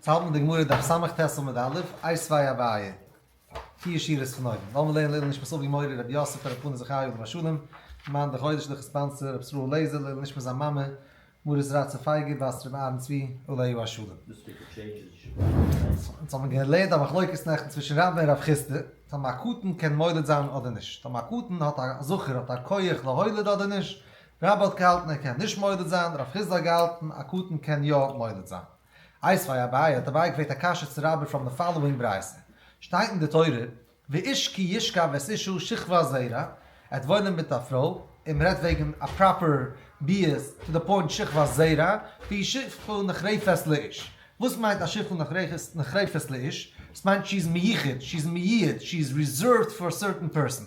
צייט מיט די גמרא דף ס' טז עמוד א', איי ס'וואי א וויי, פיר שורות פון אויבן, לאמיר לערנען לעילוי נשמת אבי מורי רבי יוסף ר' פנחס זכרי' עליו השלום, מאן דחודש דורך ספאנסער רבי ישראל לעזער, לעילוי נשמת זיין מאמע מרת רצה פייגא בת רבי אהרן צבי עליו השלום. אונז האבן געלערנט א מחלוקת נעכטן צווישן רבא און רב חיסדא, טאמער א קטן קען מוליד זיין אדער נישט, טאמער א קטן האט א זכר האט א כח להוליד אדער נישט, רבא האט געהאלטן ער קען נישט מוליד זיין, רב חיסדא האט געהאלטן א קטן קען יא מוליד זיין. עיז פאר אביי האט אביי געפרעגט א קשיא צו רבי פראם די פאלאווינג ברייתא, שטייט אין די תורה ואיש כי ישכב ואת אישו שכבה זעירא, ער האט וואוינען מיט א פרוי, און מ'רעדט וועגן א פראפער ביאות טו די פוינט שכבה זעירא, והיא שפחה נחרפת לאיש, וואס מיינט א שפחה נחרפת לאיש? עס מיינט שי איז מיוחד, שי איז מיועד, שי איז ריזערווד פאר א סערטען פערסאן,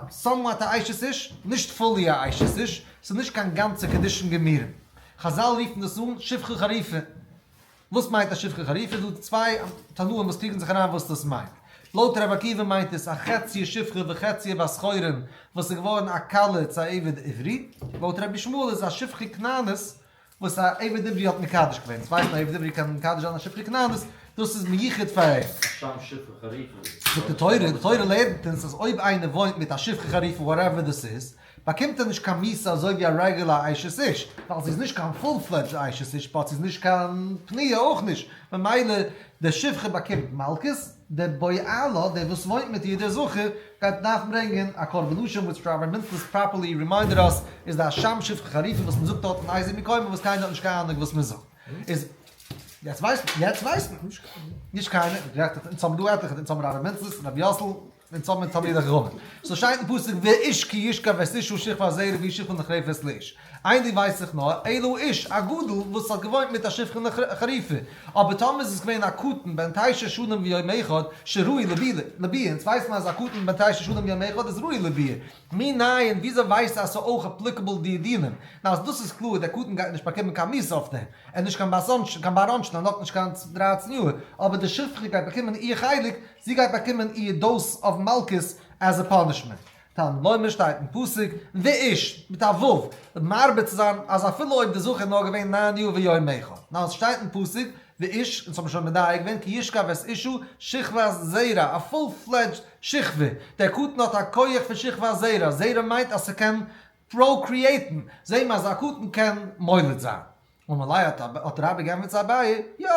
סאמוואט א אשת איש, נישט פולי א אשת איש, ס'איז נישט קיין גאנצע קידושין געמירין. חזל רופן דאס אן שפחה חריפה. וואס מיינט א שפחה חריפה? איז דא צוויי תנאים וואס קריגן זיך אריין וואס דאס מיינט. לויט רבי עקיבא מיינט עס א חצי שפחה וחצי בת חורין וואס איז געווארן א כלה צו א עבד עברי. לויט רבי שמואל איז א שפחה כנענית וואס א עבד עברי האט מקדש געווען. אונז ווייסן אז א עבד עברי קען מקדש זיין א שפחה כנענית, דאס איז מיוחד פאר אים. שם שפחה חריפה. זאגט די תורה, די תורה לערנט אונז אז אויב איינער וואוינט מיט א שפחה חריפה וואטעווער דאס איז, באקומט ער נישט קיין מיסה אזוי ווי א רעגולער אשת איש, ווייל זי איז נישט קיין פול פלעדזשד אשת איש באט זי איז נישט קיין פנויה אויך נישט, ממילא די שפחה באקומט מלקות, די בעלה, דער וואס וואוינט מיט איר דער זכר, גייט דארפן ברענגען א קרבן נשים וויטש ראביי מינטלס פראפערלי רימיינדעד אס איז די שם שפחה חריפים וואס מען זאגט דארט אין אייזיק מקוה וואס קיינער האט נישט קיין אנונג וואס מען זאגט איז יעצט ווייסט מען נישט קיינער, אונז האבן דא עטליכע, אונז האבן ראביי מינטלס, ראביי יאסל. און צאמען מיט תלמידי חכמים. ס'איז שטייט אין פסוק ווי איש כי ישכב וועסט איש הוא שכבה זהר ווי שכבו נחרפה וועסט לאיש. איין דינג ווייס איך נאר, אילו איש, א גדול, וואס האט געוואוינט מיט א שכבה נחרפה, אבער טאמער איז עס געווען א קטן בן תשע שנים ויום אחד, שראוי לביאה, אונז ווייס מיר אז א קטן בן תשע שנים ויום אחד איז ראוי לביאה, מי ניין, וויאזוי ווייסטו אז ס'איז אויך אפליקעבל די דינים? ניין אז דאס איז קלאר, דער קטן גייט נישט באקומען קיין מיסה אויף דעם, ער איז נישט קיין בר אנשן, ער האט נאכנישט קיין דרייצן יאר, אבער די שכבה גייט באקומען איר חלק, זי גייט באקומען איר דאוז אוו מלקות עז ע פאנישמענט. תן לוי מיר שטייט אין פסוק ואיש, מיט א ו', מרבה צו זיין אז אפילו אויב די זכר איז נאר געווען ניין יאר ויומיך. ניין, עס שטייט אין פסוק ואיש, אונז האבן שוין מדייק געווען כי ישכב את אישו שכבת זרע, א פול פלעדזשד שכבה. דער קטן האט א כח פון שכבת זרע, זרע מיינט אז ס'קען פראוקריעיטן, זעהן מיר אז א קטן קען מוליד זיין. ומלאי האט האט רבי גענפערט צו אביי, יא,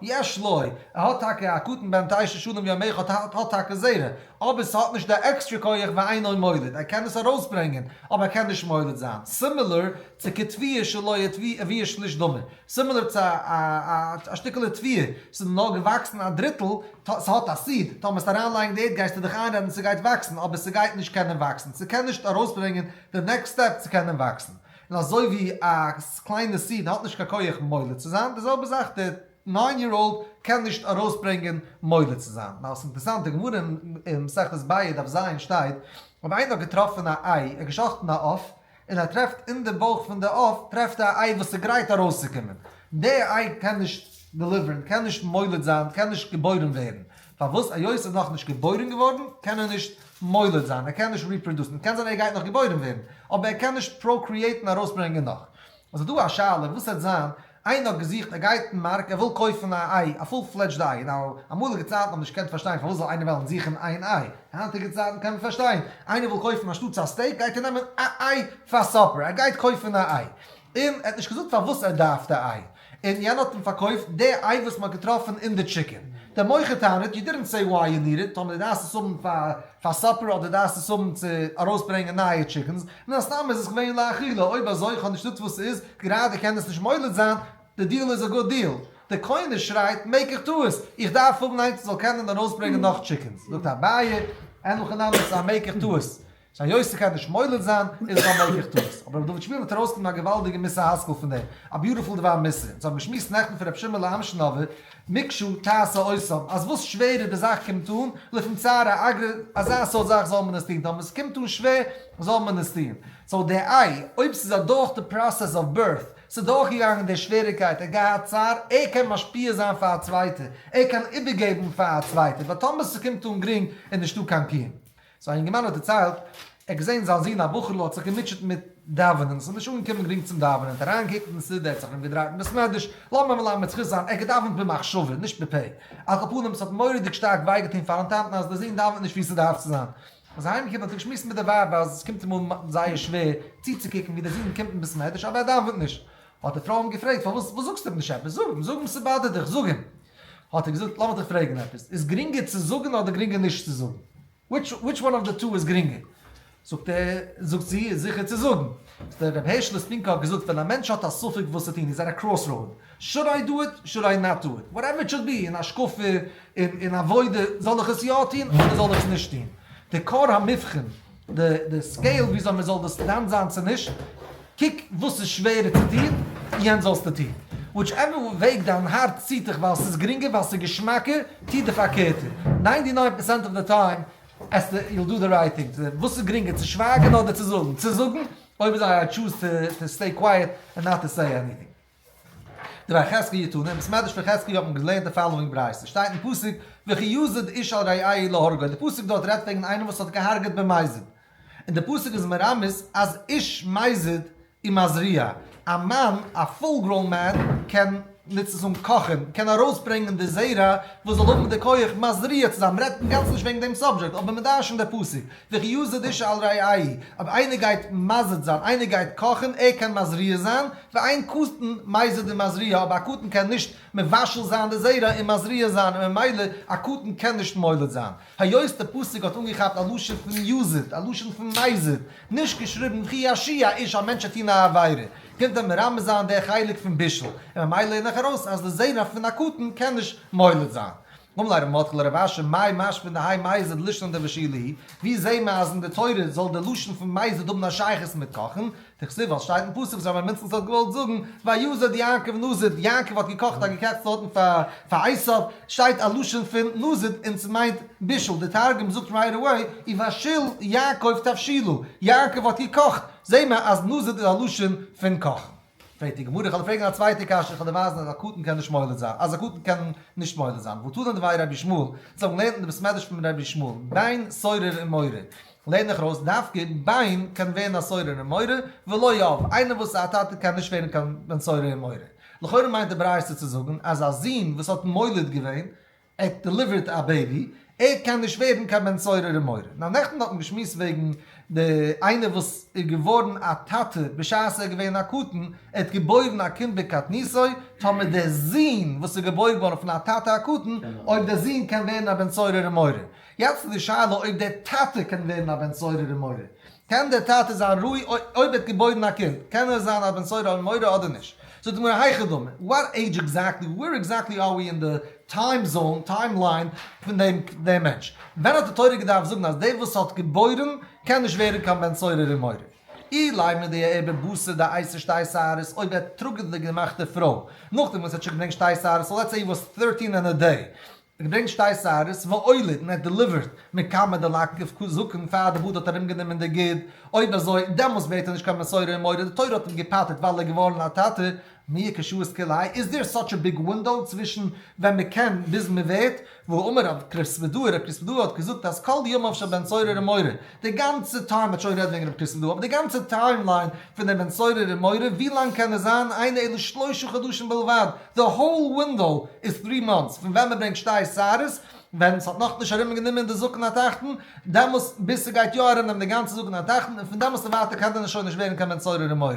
יש לו, ער האט טאקע א קטן בן תשע שנים יום אחד האט האט טאקע זרע, אבער ס'האט נישט די עקסטרע כח ואינו מוליד, ער קען עס ארויסברענגען, אבער ער קען נישט מוליד זיין, סימילער צו כתבי' שלא יתבי אביו שליש דמו, סימילער צו א א שטיקעלע תבי', ס'איז נאר געוואקסן א דריטל, ס'האט א סיד, טאמער וועסט אריינלייגן די ערד גייסטו דיך איינרעדן ס'גייט וואקסן, אבער ס'גייט נישט קענען וואקסן, ס'קען נישט ארויסברענגען די נעקסט סטעפ צו קענען וואקסן. און אזוי ווי א קליינע סיד האט נישט קיין כח מוליד צו זיין, די זעלבע זאך דער ניין יער אולד קען נישט ארויסברענגען מוליד צו זיין. נאר עס איז אינטערסאנט, די גמרא אין מסכת באה דף ז שטייט, אויב איינער האט געטראפן א איי, ער האט געשאכטן א עוף, און ער טרעפט אין די בויך פון די עוף טרעפט ער א איי וואס איז גרייט ארויסצוקומען, די איי קען נישט דעליווערן, קען נישט מוליד זיין, קען נישט געבוירן ווערן, פארוואס היות ער איז נאכנישט געבוירן געווארן קען ער נישט מוליד זיין, ער קען נישט ריפראדוסן, קען זיין ער גייט נאך געבוירן ווערן, אבער ער קען נישט פראקריעיטן ארויסברענגען נאך. איז דא א שאלה וואס העט זיין, איינער האט געזוכט ער גייט אין מארק ער וויל קויפן א איי, א פול פלעדזשד איי, נאו, אמאליגע צייטן האט מען נישט געקענט פארשטיין פארוואס זאל איינער וועלן זוכן איין איי, היינטיגע צייטן קען מען פארשטיין, איינער וויל קויפן אנשטאטס א סטעיק גייט ער נעמען א איי פאר סאפער, ער גייט קויפן א איי, און ער האט נישט געזאגט פארוואס ער דארף די איי. און יענער האט אים פארקויפט די איי וואס מען האט געטראפן אין די טשיקען. דער מוכר טענה'ט, יו דידענט סעי וויי יו ניד איט, טאמער דו דארפסט עס האבן פאר סאפער אדער דארפסט עס האבן צו ארויסברענגען נייע טשיקענס, מן הסתם איז עס געווען לאכילה, אויב אזוי איך האב נישט נישט וואס ס'איז, גראדע קען דאס נישט מוליד זיין, די דיעל איז א גוט דיעל. דער קונה שרייט, מעק איך טעות, איך דארף האבן איינס וואס זאל קענען ארויסברענגען נאך טשיקענס. זאגט אביי, אין הכי נמי, סא מעק איך טעות. זיין יוסיגקייט נישט מוליד זיין איז עס א מויגליך טעות, אבער ר' דוד שמואל וועט ארויסנעמען א געוואלדיגע מוסר השכל פון דעם, א ביוטיפול דבר מוסר, אונז האבן געשמועסט נעכטן פון ר' שמעלע אמשינאווער, מקשה תעשה אויסאם, אז וואס שווערער די זאך קומט אן, לפום צרה אגרא, אזא סארט זאך זאל מען עס טון, טאמער עס קומט אן שווער, זאל מען עס טון. סאו דער איי, אויב ס'איז אדורך די פראסעס אוו בירט, ס'איז דורכגעגאנגען דער שוועריקייט, ער האט געהאט צער, ער קען משפיע זיין פאר א צווייטער, ער קען איבערגעבן פאר א צווייטער, באט טאמער ס'קומט אן גרינג איז נישטא קיין קיום. סאו א יונגערמאן האט דערציילט, ער האט געזען זיין זון א בחור'ל האט זיך געמוטשעט מיט דאווענען, עס איז נישט אנגעקומען גרינג צום דאווענען, ער האט אריינגעקוקט אין סידור, ער האט זיך ארומגעדרייט אין בית מדרש, לאמיר אים מלמד זכות זיין, ער האט געדאווענט במחשבה, נישט בפה, על כל פנים, עס האט מורא'דיג שטארק וויי געטון פארן טאטן אז דער זון דאווענט נישט ווי עס דארף צו זיין. ווען ער איז אהיים געקומען האט ער געשמועסט מיט די ווייב אז עס קומט אים אן זייער שווער צוצוקוקן ווי דער זון קומט אין בית מדרש אבער ער דאווענט נישט, האט די פרוי אים געפרעגט פארוואס, וואס זאגסטו אים נישט עפעס, זאג אים, זאג אים ס'באדערט דיך, זאג אים. האט ער געזאגט לאמיך דיך פרעגן עפעס, איז גרינגער צו זאגן אדער גרינגער נישט צו זאגן? וויטש וואן אוו די טו איז גרינגער? זאגט ער, זאגט זי, איז זיכער צו זאגן. דער רבי הערשל ספינקא האט געזאגט ווען א מענטש האט א ספק וואס צו טון, איז ער א קראס ראוד, שאד איי דא איט, שאד איי נאט דא איט, וואטעווער איט שאד בי, אין השקפה, אין עבודה, זאל איך עס יא טון אדער זאל איך עס נישט טון? די כר המבחין. די סקעיל וויאזוי מען זאל דאס דן זיין צו נישט, קוק וואס איז שווערער צו טון, יענץ זאלסטו טון. וויטש עווער וועג דיין הארץ ציט דיך ווייל ס'איז גרינגער, ווייל ס'איז געשמאקער, טו די פארקערטע. ניינטי ניין פערסענט אוו די טיים עסטו, יו דו די רייט טינג צו דעם. וואס איז גרינגער צו שווייגן אדער צו זאגן? צו זאגן, אויב איז א טשוז טו סטעי קווייעט ענד נאט טו סעי עניטינג. דער החזקה יתונה אין בית מדרש פון חזקיה האט מען געלערנט די פאלאווינג ברייתא, שטייט אין פסוק וכי יסד איש על רעיו להורגו, די פסוק דארט רעדט וועגן איינעם וואס האט געהארגעט במזיד, און די פסוק איז מרמז אז איש מזיד היא מזריעה, א מאן, א פול גראון מען, קען נוץ עס און קאכן, קען ארויסברענגען די זרע וואס זאל האבן די כח מזריע צו זיין, מען רעדט אינגאנצן נישט וועגן דעם סאבדזשעקט, אבער מען דרש'נט די פסוק, וכ י ז דישא על רעי', אויב איינער גייט מזיד זיין, איינער גייט קאכן, ער קען מזריע זיין, ואין קטן מזיד און מזריע, אבער א קטן קען נישט מבשל זיין די זרע און מזריע זיין, און ממילא א קטן קען נישט מוליד זיין. היות די פסוק האט אנגעכאפט א לשון פון יזיד, א לשון פון מזיד, נישט געשריבן וכ י השי ה איש, א מענטש וועט טון א עבירה, קומט ער מרמז זיין די חלק פון בישול, און ממילא לערן איך ארויס אז די זרע פון א קטן קען נישט מוליד זיין. מום ליי רמות כ לרב אשר מאיר מאש פון די היי מייז ד לשנן ד ושי ל, ווי זעהן מיר אז אין די תורה זאל די לשון פון מייז ד האבן א שייכות מיט קאכן, דכתיב ווייל סשטייט אין פסוק וואס ר' אברהם מינצל ז ל האט געוואלט זאגן ויזד יעקב נזיד, יעקב האט געקאכט א געקעכצטע אוטן פאר עשיו, שטייט א לשון פון נזיד און סמיינט בישול, די תרגום זאגט רייט אוועי ויבשיל יעקב תבשילו, יעקב האט געקאכט, זעהן מיר אז נזיד איז א לשון פון קאכן. פרעגט די גמרא, איך וועל פרעגן א צווייטע קשיא, איך וועל דיר ווייזן אז א קטן קען נישט מוליד זיין, אז א קטן קען נישט מוליד זיין, וואו טזענען דברי רבי שמואל, זיי האבן געלערנט אין די בית מדרש פון רבי שמואל, בין סורר און מורה, לערן איך ארויס, דווקא בין קען ווערן א סורר און מורה, ולא י', איינער וואס איז א טאטע קען נישט ווערן קיין בן סורר און מורה. לכאורה מיינט די ברייתא צו זאגן, אז א זון וואס האט מוליד געווען, ער האט דעליווערט א בעיבי, ער קען נישט ווערן קיין בן סורר ומורה. נאר נעכטן האט מען געשמועסט וועגן די איינער וואס איז געווארן א טאטע בשעת ער איז געווען א קטן, ער האט געבוירן א קינד בקטנותו, טאמער דער זון וואס איז געבוירן געווארן פון א טאטע א קטן, אויב דער זון קען ווערן א בן סורר ומורה. יעצט איז די שאלה אויב דער טאטע קען ווערן א בן סורר ומורה. קען דער טאטע זיין ראוי אויב ער האט געבוירן א קינד? קען ער זיין א בן סורר ומורה אדער נישט? זאגט די גמרא היכא דמי, וואט עידזש עקזעקטלי, ווער עקזעקטלי אר ווי אין די טיים זאון, טיים ליין, פון דעם דעם מענטש? ווען האט די תורה געדארפט זאגן אז דער וואס האט געבוירן קען נישט ווערן קיין בן סורר ומורה? אילאי מדי ער בבשר דעיסה שתי שערות, אויב ער טראגט די געמאכטע פרוי, נאכדעם וואס ער האט שוין געברענגט שתי שערות, סאו לעטס סעי הי וואס טהירטין ענד א דעי, איך געדענק שטייסט אייערס וואוילער און ער האט דעליווערט מכמה דלקתיו כ זקן פאר די באד האט ארומגענומען די גיד, אויב אזוי דעמאלס בעט ער נישט קיין מסורה און מורא, די תורה האט אים געפאטערט ווייל ער איז געווארן א טאטע, מי כשוות כלאי, איז דער סאטש א ביג ווינדאו צווישן ווען מען קען ביז מען ווערט, והוא אמר רב קריספדור, רב קריספדור האט געזאגט אז כל ימיו של בן צורר ומורה, די גאנצע טיים, מ'האט שוין גערעדט וועגן רבי קיסל דא, אבער די גאנצע טיימליין פון דעם בן סורר און מורה, ווי לאנג קען עס זיין? איינע אלו שלושה חדשים בלבד, די האול ווינדאו איז טרי מאנטס, פון ווען מ'ברענגט שתי שערות, ווען ס'האט נאך נישט ארום גענומען די זקן התחתון, דעמאלס ביז ס'גייט יא ארום נעמען די גאנצע זקן התחתון, און פון דעמאלס און ווייטער קען דען עס שוין נישט ווערן קיין בן סורר און מורה?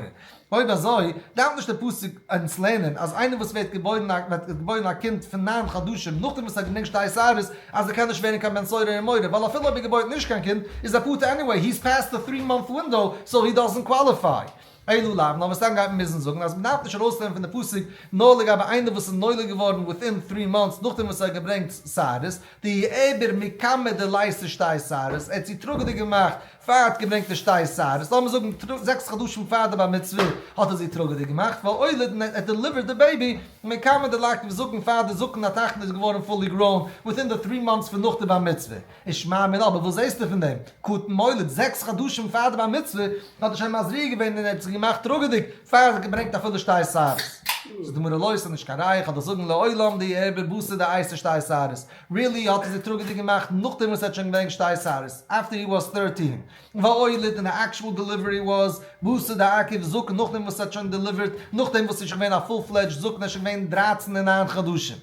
אויב אזוי, דארף נישט דער פסוק אונז לערנען אז איינער וואס ווערט געבוירן א ווערט געבוירן א קינד פון נײַן חדשים נאכדעם וואס ער האט גענוג שתי שערות, אז ער קען נישט ווערן קיין בן סורר און מורה, ווייל אפילו אויב ער געבוירט נישט קיין קינד, איז ער פטור עניוועי, he's past the three month window, so he doesn't qualify. אלו לאו, נאר מסתם גייט מען מוזן זאגן אז מ'דארף נישט ארויסלערנען פון די פסוק נאר לגבי איינער וואס איז נולד געווארן within three months נאכדעם וואס ער האט געברענגט שערות, דהי עבר מכמה דלעיסה שתי שערות, ער האט זי טראגעדיג געמאכט פאר ער האט געברענגט די שטייער סייערס, לאמיר זאגן זעקס חדשים פאר די בר מצוה, האט ער זי טראגעדיג געמאכט, והולד, און ער האט דעליווערט די בעיבי, און מען קאן מען די לייק וואס זאגן פאר די זקן התחתון איז געווארן פולי גראון, וויטין די טרי מאנטס פון נאך די בר מצוה, איז שמע מינה, אבער וואס זעהסטו פון דעם, קטן מולד, זעקס חדשים פאר די בר מצוה, האט ער שוין מזריע געווען און ער האט זי געמאכט טראגעדיג, פאר ער האט געברענגט אפילו שטייער סייערס. זאגט די גמרא לא, עס איז נישט קיין ראיה, כדי זאגן לעולם די ערבי בשר די אייסע שטייער סייערס, רילי האט ער זיך טראגעדיג געמאכט נאכדעם וואס ער האט שוין געווען געשטייסארעס אפטער הי וואס טערטין והאויל איט און די עקשועל דעליווערי וואס בשר די עקב זקן נאכדעם וואס ער האט שוין דעליווערט נאכדעם וואס ער שוין געווען א פול פלעדזשד זקן ער שוין געווען דרײַצן און נײַן חדשים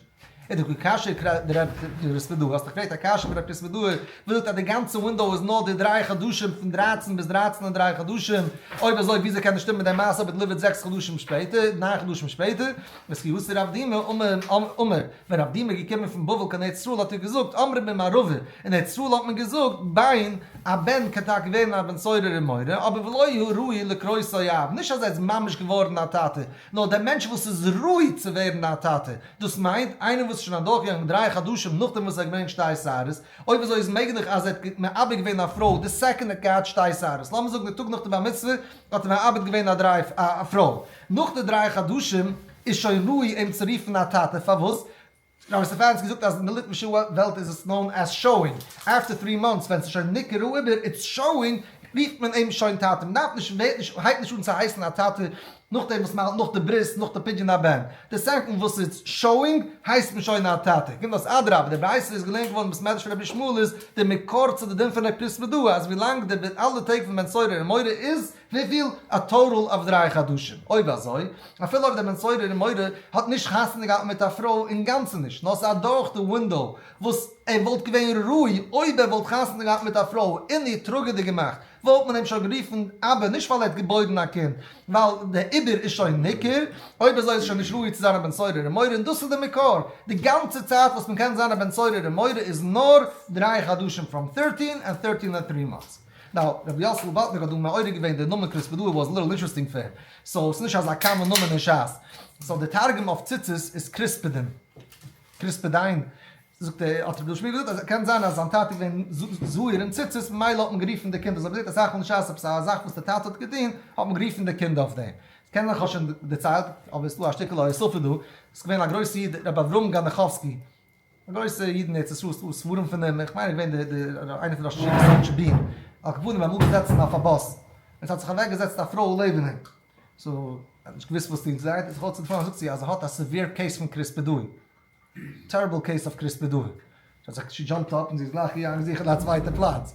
איט די קשיא די רב קריספער דא האסט געפרעגט א קשיא די רב קריספער דא וואס זאגט אז די גאנצע ווינדאו איז נאר די דריי חדשים פון דרײַצן ביז דרײַצן און דריי חדשים אויב אזוי וויאזוי קען עס שטימען מיט די מעשה אויב ער דעליווערט זעקס חדשים שפעטער נײַן חדשים שפעטער וסקיווסי רב דימא אמר ווען אבדים איז געקומען פון בבל קיין ארץ ישראל האט ער געזאגט אמרי בן מערבי, אין ארץ ישראל האט מען געזאגט ביין א בן קען טאקע ווערן א בן סורר און מורה אבער ולא הוא ראוי לקרוא סוי אב, נישט אז ער איז ממש געווארן א טאטע, נאר דער מענטש וואס איז ראוי צו ווערן א טאטע, דאס מיינט איינער וואס איז שוין אדורכגעגאנגען דריי חדשים נאכדעם וואס ער האט געברענגט שתי שערות, אויב אזוי איז מעגליך אז ער האט מעביר געווען א פרוי די סעקאנד ער האט געהאט שתי שערות, לאמיר זאגן די טאג נאך די בר מצוה האט ער מעביר געווען א פרוי, נאך די דריי חדשים. איז שוין ראוי אים צו רופן א טאטע? פארוואס? רבי סטעפאנסקי זאגט אז אין די ליטווישע וועלט איז עס נאון עז שאואינג, אפטער טרי מאנטס ווען ס'איז שוין ניכר אריבער איטס שאואינג רופט מען אים שוין טאטע, מ'דארף נישט און ווערט נישט הייבט נישט אן צו הייסן א טאטע נאכדעם וואס מ'האלט נאך די ברית נאך די פדיון הבן, די סעקאנד וואס איטס שאואינג הייסט מען שוין א טאטע, קומט אויס אדרבה די ברייתא איז געלערנט געווארן מבית מדרש פון רבי ישמעאל איז די מקור צו די דין פון ר' פרסמא דא אז ווילאנג די אלע טעג פון בן סורר און מורה איז וויפיל? א טאטאל אוו דריי חדשים, אויב אזוי, אפילו אויב דער בן סורר און מורה האט נישט חתונה געהאט מיט א פרוי אינגאנצן נישט, נאר ס'איז אדורך די ווינדאו, וואס ער וואלט געווען ראוי אויב ער וואלט חתונה געהאט מיט א פרוי און איר טראגעדיג געמאכט, וואלט מען אים שוין גערופן אבא נישט ווייל ער האט געבוירן א קינד, ווייל די עיבור איז שוין ניכר, אויב אזוי איז ער שוין נישט ראוי צו זיין א בן סורר און מורה און דאס איז די מקור, די גאנצע צייט וואס מען קען זיין א בן סורר און מורה איז נאר דריי חדשים, פראם טערטין, און טערטין און טרי מאנטס. נאו, רבי יאסל וואלטנער האט דא מעורר געווען די נאמען קריספעדאו וואס ליטעל אינטרעסטינג פאר אים, סאו ס'איז נישט אזא קאמאן נאמען אין שס, סאו די תרגום אויף ציצית איז קריספעדין, קריספעדין, זאגט ער, האט רבי שמואל געזאגט אז קען זיין אז זיין טאטע איז געווען זוהיר אין ציצית ממילא האט מען גערופן די קינד אזוי, מ'זעט אסאך מאל אין שס עפעס א זאך וואס די טאטע האט געטון האט מען גערופן די קינד אויף דעם, קען זיין כ'האב שוין דערציילט אבער ס'איז דא א שטיקל הוספה דא, ס'איז געווען א גרויסע איד רבי אברהם גאנעכאווסקי, גרויסע אידן ארץ ישראל ס'דא ספרים פון אים איך מיין ער איז געווען די איינער פון ראשי ישיבת סאטשבערן האט געוואונען ביים אפזעצן אויף א באס עס האט זיך אוועק געזעצט א פרוי לעבן אים סאו ער האט נישט געוויסט וואס טוהן זיי האט זיך אויס געפונען זאגט זי אז ער האט א סעווער קעיס פון קריספעדוי טעריבל קעיס אויף קריספעדוי זי האט זיך שי דזשאמפט אפ און זי איז גלייך אריין זיכען א צווייטע פלאץ.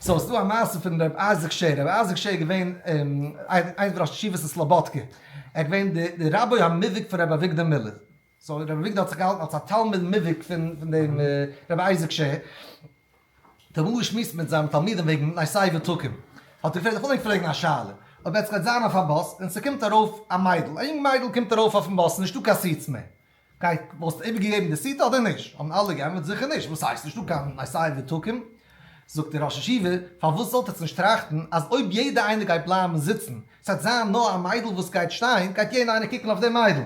סאו ס'דא א מעשה פון ר' אייזיק שער, ר' אייזיק שער איז געווען איינס פון ראשי ישיבות אין סלאבאדקע, ער איז געווען די רבי המבריק פון ר' אביגדור מילער, סאו ר' אביגדור האט זיך געהאלטן אלס א תלמיד מובהק פון דעם ר' אייזיק שער, האט ער באמאל געשמועסט מיט זיינע תלמידים וועגן ניסי ותקון, האט ער געפרעגט איך וויל ענק פרעגן א שאלה, אויב עטס גייט זיין אויף א באס און ס'קומט ארויף א מיידל, א יונג מיידל קומט ארויף אויפן באס, נישטא קיין סיעטס מער, גייט, וואלסטו איבערגעגעבן די סיטי אדער נישט? האבן אלע געענטפערט זיכער נישט, וואס הייסט נישטא קיין משאים ותוקים? זאגט דער ראש ישיבה, פארוואס זאלט עטס נישט טראכטן אז אויב יעדע איינער גייט בלייבן זיצן, ס'וועט זיין נאר א מיידל וואס גייט שטיין, גייט יעדע איינער קוקן אויף די מיידל,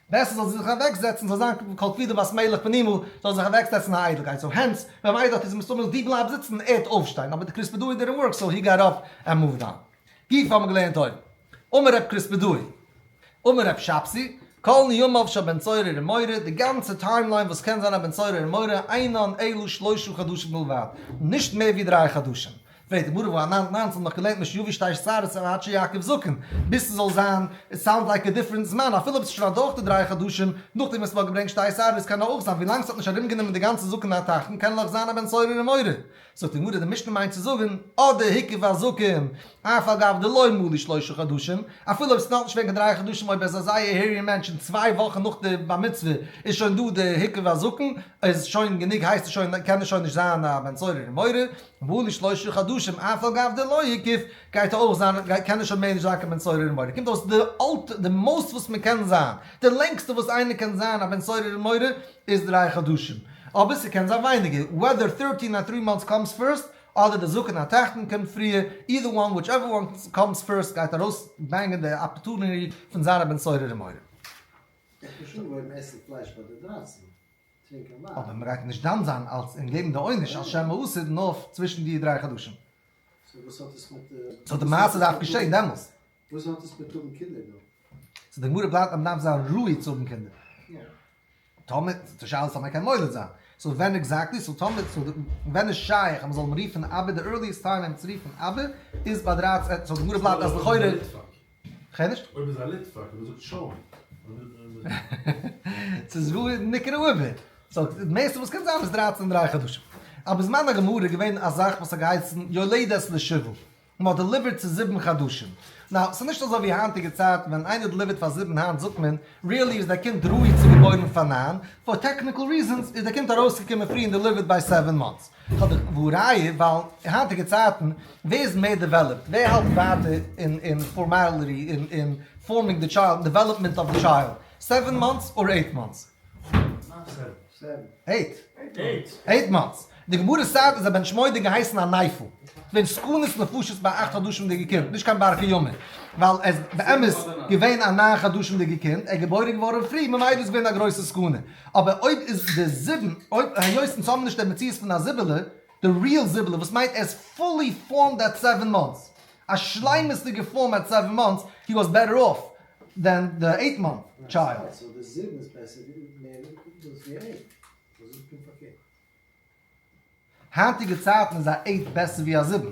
בעסער זאל זי זיך אוועק זעצן, זאל זיין כל כבודה בת מלך פנימה, זאל זיך אוועק זעצן א איידלקייט, סאו הענס, ווען א מיידל האט איז מסתמא זי בלייבט זיצן, ערד אויפשטיין, אבער די קריספעדאידער און ווארקס סאו הי געט אפ ענד מואווד אן. גיפ האבן געלערנט אויבן. אמר רב קריספדאי. אמר רב שבסי. כל ניומיו של בן צור ער און מורי, די גאנצע טיים ליין וואס קען זיין א בן צור ער און מורי, אינן אלא שלשה חדשים בלבד, נישט מער ווי דריי חדשים. פרעגט די גמרא וואו א נײַן נײַנצן נאך געלערנט משהווי שתיים עשרה עד עד שיעקב זקן, ביז ס'זאל זיין, איט סאונד לייק א דיפרענט זמן, אפילו אויב ס'איז שוין אדורך די דריי חדשים, נאכדעם וואס מ'האט געברענגט שתי עשרה, עס קען אויך זיין, ווילאנג ס'האט נישט ארומגענומען די גאנצע זקן התחתון קען נאך זיין א בן צור ער און מורי. זאגט די גמרא, די משנה מיינט צו זאגן, אט די היקף הזקן, אף על גב דלא מלא שלושה חדשים, אפילו אויב ס'נאכנישט וועגן די דריי חדשים, אויב ער איז א זייער העירי מענטש און צוויי וואכן נאך די בר מצוה איז שוין דא די היקף הזקן, איז שוין גענוג הייסט עס שוין קען ער שוין נישט זיין א בן צערור און מורא, מלא שלושה חדשים אף על גב דלא היקף, גייט ער אויך זיין קען ער שוין מער נישט זיין קיין בן צערור און מורא, קומט אויס די אלט די מאס וואס מען קען זיין, די לענגסטע וואס איינער קען זיין א בן צערור און מורא, איז דריי חדשים, אבער ס'קען זיין ווייניגער, וועדער טערטין אר טרי מאנטס קאמס פירסט, אדער די זקן התחתון קומט פריער, אידער וואן וויטשעווער וואן קאמס פירסט גייט ארויס ברענגען די אפערטונירי פון זיין א בן סורר ומורה. איז דאך חשוב אויב מ'עסט פלייש ביי די דרייצן, טרינקען וויין. אבער מ'גייט נישט דן זיין אלס און געבן די עונש על שם האסור נאר צווישן די דריי חדשים. סאו וואס האט עס מיט. סאו די מעשה דארף געשען דעמאלס. וואס האט עס מיט האבן קינדער דא? סאו די גמרא בלייבט אז מ'דארף זיין ראוי צו האבן קינדער. תמיד, די שאלה איז תמיד קיין מולד זיין, סאו ווען עקזעקטלי, סאו תמיד, סאו ווען איז שייך אז מען זאל אים רופן אבי, די ערליעסט טיים אים צו רופן אבי איז ביי דרײַצן, סאו די גמרא בלייבט אז לכאורה, כ'הער נישט. אויב איז א ליטוואק און ער זאגט שוין. ס'איז וואו איז נקרא אבי, סאו די מערסטע וואס קען זיין איז דרײַצן און דרײַ חדשים. אבער זמן הגמרא איז געווען א זאך וואס האט געהייסן יולדת לשבעה. מ'האט דעליווערט צו זיבן חדשים. נאו, ס'איז נישט אזוי ווי היינטיגע צייטן ווען ווען איינער דעליווערט פאר זיבן היינט זאגט מען, ריעלי איז דער קינד ראוי צו געבוירן פאר ניין, פאר טעקניקל ריזענס איז דער קינד ארויסגעקומען פרי און דעליווערט ביי סעווען מאנטס. והא ראיה, ווייל אין היינטיגע צייטן, ווער איז מער דעוועלאפט, ווער האלט ווייטער אין אין פארמעליטי, אין אין פארמינג די טשיילד, דעוועלאפמענט אוו די טשיילד, סעווען מאנטס אר עיט מאנטס? אייט מאנטס. די גמרא סעד אז א בן שמונה געהייסן א נייפל. ווען סכנת נפשות ביי אכט חדשים די געקינד, נישט קיין בר חיומה. ווייל ער איז באמת געווען א ניין חדשים די געקינד, ער איז געבוירן געווארן פרי, ממילא איז געווען א גרויסע סכנה. אבער אויב איז די זיבן, היות אונז האבן נישט די מציאות פון א זיבעלע, די ריעל זיבעלע וואס מיינט ער איז פולי פארמד עט סעווען מאנטס, א שלימות'דיגע פארם עט סעווען מאנטס, הי וואס בעטער אףף דען די אייט מאנט טשיילד. סאו די זיבן איז בעסער ווי מער דאס ווי אייט? וואס איז פונקט פארקערט? היינטיגע צייטן איז א אייט בעסער ווי א זיבן.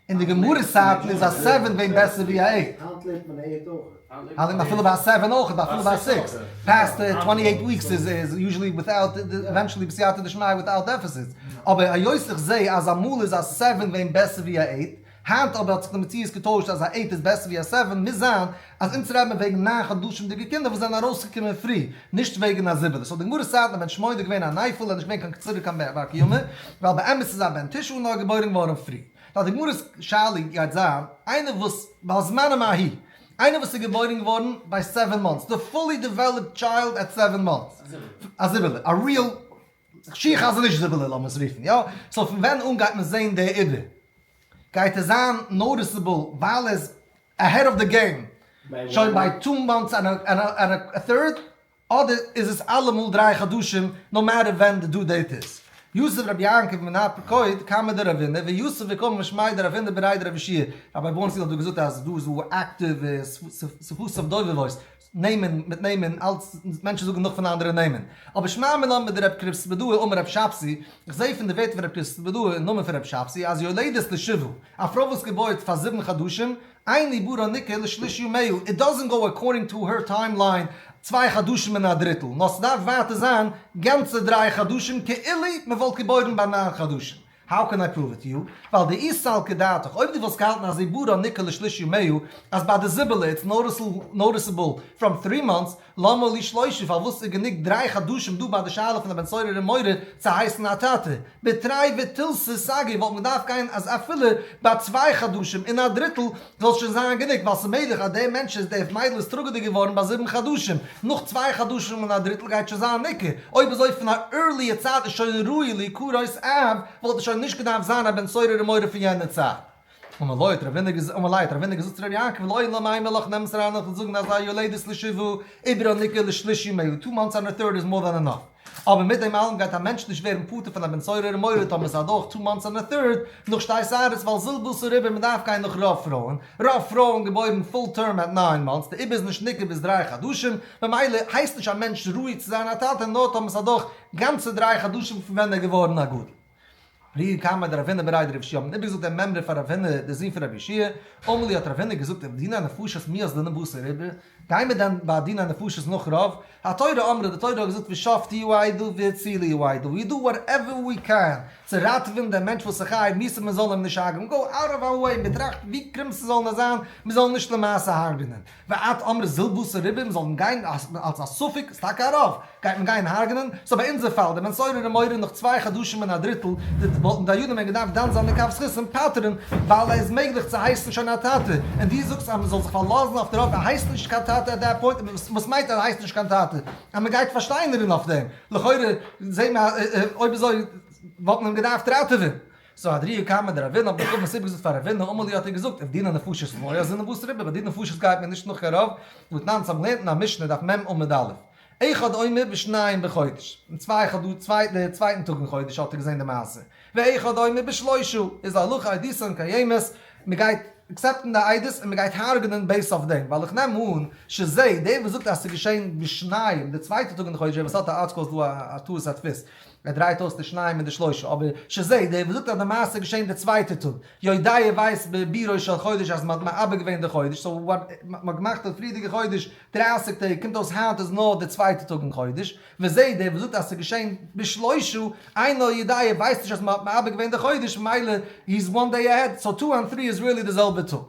אין די גמרא סייטל איז א סעווען ווען בעסער ווי א עיט. היינט לערנט מען א עיט אויכעט. און אפילו ביי א סעווען אויכעט, אפילו ביי א סיקס. פעסט טווענטי עיט וויקס איז יוזשעלי וויטאוט, עווענטשעלי בסייעתא דשמיא וויטאוט דעפיסיטס. אבער היות איך זע אז אמאל איז א סעווען ווען בעסער ווי א עיט, היינט אבער האט זיך די מציאות געטוישט אז א עיט איז בעסער ווי א סעווען, מוז זיין אז אונז רעדט מען וועגן ניין חדשים'דיגע קינדער וואס זענען ארויסגעקומען פרי, נישט וועגן א זיבעלע, ס'האט די גמרא סיידן א בן שמונה איז געווען אן אייפעל, ער איז נישט געווען קיין קציר ווי קיין בן בר קיימא, ווייל באמת איז א בן תשעה נאר געבוירן געווארן פרי. לויט די גמרא'ס שאלה גייט זיין, איינער וואס, ועל זמנם ההיא, איינער וואס איז געבוירן געווארן ביי סעווען מאנטס, די פולי דעוועלאפד טשיילד עט סעווען מאנטס, א זיבעלע, א ריעל שיעור חזניש זיבעלע לאמיר עס רופן, יא, סאו פון ווען אן גייט מען זעהן די עובר? גייט ער זיין נאוטיסעבל ווייל ער איז אהעד אוו די געים, שוין ביי טו מאנטס ענד א טוירד, אדער איז עס אלעמאל דריי חדשים נאו מעטער ווען די דו דעיט איז? יוסף רבי יעקב מנאפ פקוד קאמער די ראבינער ויוסף וקאמער משמאי די ראבינער בראי די רבי שיער, רבי בונצל האט דא געזאגט אז דא איז דא אקטיוו ספעסיפיק דויווער וואויס. נעמען מיט נעמען אלץ מענטשן זאגן נאך פון אנדערע נעמען אבער שמע מלמד דער רב קריספעדאהער אמר רב שבתי איך זעה פון די ווערטער פון רב קריספעדאהער אין נאמען פון רב שבתי אז יולדת לשבעה א פרוי וואס געבוירט פאר זיבן חדשים אין עיבורה ניקה לשליש ימיהו איט דאזענט גאו אקארדינג טא הער טיים ליין צוויי חדשים און א דריטל נאר ס'דארף ווייטער זיין גאנצע דריי חדשים כאילו מ'וואלט געבוירן ביי ניין חדשים האו קען איי פראוו איט יו? ווייל די איז סל כדעתך, אויב די וואלסט געהאלטן אז עיבורא ניקא לשליש ימיו, אז ביי די זיבעלע איטס נאוטיסעבל פראם טרי מאנטס, למה לי שלושה פארוואס איז גענוג דריי חדשים דא ביי די שאלה פון א בן סורר און מורה צו הייסן א טאטע? בתרי ותלסי סגי וואלט מען געדארפט גיין אז אפילו ביי צוויי חדשים און א דריטל זאל שוין זיין גענוג ווייל ס'מעגליך אז דער מענטש איז דער מיידל איז טראגעדיג געווארן ביי זיבן חדשים, נאך צוויי חדשים און א דריטל גייט שוין זיין ניכר, אויב אזוי פון א ערליע צייט איז שוין ראוי לעיקור אויס אהב וואלט ער שוין נישט געדארפט זיין א בן צורר און מורה פון יענער צייט. און מלאית רב הונא געזאגט ומלאית רב הונא געזאגט צו ר' יעקב לא אין לו מי מלאך נעם עס אריין נאכן זאגן אז א יולדת לשבעה איבער א ניכר לשלישי מאה טו מאנטס אנדער טוירט איז מאר דען ענאף. אבער מיט דעם אלעם גייט א מענטש נישט ווערן פטור פון א בן צעיר ארום מוירע טאמער ס'איז אדורך טו מאנטס און א טירד נאך שתי שערות ווייל זיל וואס אריבער מ'דארף גיין נאך רוב פרויען רוב פרויען געבוירן פול טערם עט ניין מאנטס די איבער איז נישט ניכר ביז דריי חדשים ממילא הייסט נישט א מענטש ראוי צו זיין א טאטע נאר טאמער ס'איז אדורך גאנצע דריי חדשים פון ווען ער געווארן א גדול. ר' יאיר קאמאר דער רבינער ברייד רב שי' האבן איבערגעזאגט דעם מימרא פאר ר' אבינר דער זון פון רבי ישעי', אמר לי האט ר' אבינר געזאגט אין דינא נפשות מי אז דנא בשר איבר, גייען מיר דען ביי דינא נפשות נאך רוב? התורה אמרה די תורה האט געזאגט ושפטו יעדו והצילו יעדו, ווי דא וואטעווער ווי קען, צו ראטעווען דעם מענטש וואס איז חי מוז מען זאל אים נישט הרג'ען, גאו אוט אוו אווער ווען מיר טראכטן ווי קרום ס'זאל נאר זיין מיר זאלן נישט למעשה הרג'ענען. ועד אמר זיל בשר ריבה, מען זאל גיין אלס א ספק, איז טאקע א רוב, גייט מען גיין הרג'נען, סאו ביי אונזער פאל, די בן סורר און מורא נאך צוויי חדשים און א דריטל, וואלטן דיינים ווען געדארפט דן זיין מכף זכות און פטר'ן, ווייל איז מעגליך צו הייסן שוין א טאטע, און דו זאגסט אז מען זאל זיך פארלאזן אויף די רוב, ער הייסט נישט קיין טאטע עט דעט פוינט, וואס מיינט ער הייסט נישט קיין טאטע? אז מען גייט פארשטיינערן אויף דעם, לכאורה זעהן מיר אז אויב אזוי וואלט מען אים געדארפט ראטעווען, זאָ אַ דריִע קאַמער דער רבי'ן, האָט מען אָפֿט מסביר געזאָגט פֿאַר רבינו, אַמאָל יאָ, האָט ער געזאָגט, אויף דינע נפֿשות לויע, זינען וואָס ריבע, ביי די נפֿשות גייט מען נישט נאָך קיין רבֿ, וואָס נײַן צו האָבן לערנט אין אַ משנה, דף מ, עמוד א', אחד עומר בשניים בחודש, אין צוויי חדש, צוויי, דער צווייטן טאָג אין חודש האָט ער געזען די מעשה, ואחד עומר בשלשה, איז אַ הלכה אויף דיסען קיימת, מען גייט עקסעפּטן די עדות און מען גייט הרגענען בעיסד אויף דעם, ווייל איך נעם אָן, שז, דער וואָס זאָגט אַז ס'איז געשען בשניים, דער צווייטער טאָג אין חודש, ווער וואָס האָט אַ ארטיקל איז דאָ אַ טעות הדפֿות. מען דרייט אויס די שניים און די שלושה, אבער ש ז דער וואס זאגט אז די מעשה איז געשען די צווייטע טאג יו ד ווייסט ב ב ראש של חודש אז מען האט מאבד געווען די חודש, סאו וואט, מען האט געמאכט די פריערדיגע חודש דרײַסיק טעג, קומט אויס היינט איז נאר די צווייטע טאג אין חודש, ו ז דער וואס זאגט אז עס איז געשען ב ש שלושה, איי נאו יו ד ווייסט נישט אז מען האט מאבד געווען די חודש ממילא הי איז וואן דעי אהעד, סאו טו אנד טרי איז ריעלי די זעלבע טאג.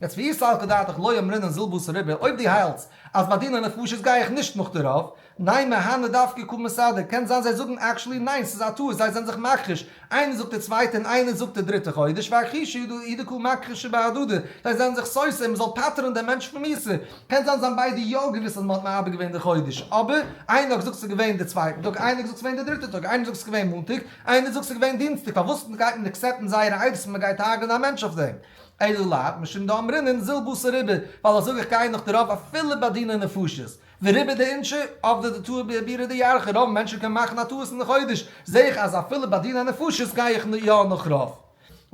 יעצט ויסלחך דעתך לא יאמרינן זיל בשר ריבה, אויב די האלטס אז ביי דיני נפשות גיי איך נישט נאך דערויף, ניין מהנה דווקא קא מסדר, קען זיין זיי זאגן עקשעלי ניין ס'איז א טעות זיי זענען זיך מכחיש, איינער זאגט די צווייטע און איינער זאגט די דריטע חודש והכחישו אידא קא מכחישי בהדדי, זיי זענען זיך סותר און מ'זאל פטר'ן דעם מענטש פון מוסר, קען זיין זיי האבן ביידע יא געוויסט אז מ'האט מאבד געווען די חודש אבער איינער האט געזאגט ס'איז געווען די צווייטע טאג איינער האט געזאגט ס'געווען די דריטע טאג איינער זאגט ס'איז געווען מאנטאג איינער זאגט ס'איז געווען דינסטאג פארוואס גייט מען עקסעפטן זייערע עדות און מ'גייט הרג'ענען א מענטש אויף דעם אלא לייט משום דאמרינן זיל בשר איבער ווייל אזוי אויך גייען נאך די רוב אפילו ביי דיני נפשות דעריבער די עונש אויף די טעות ביי עבירה דאיארכא, רוב מענטשן קען מאכן א טעות אין די חודש, זעה איך אז אפילו ביי דיני נפשות גיי איך יא נאך רוב.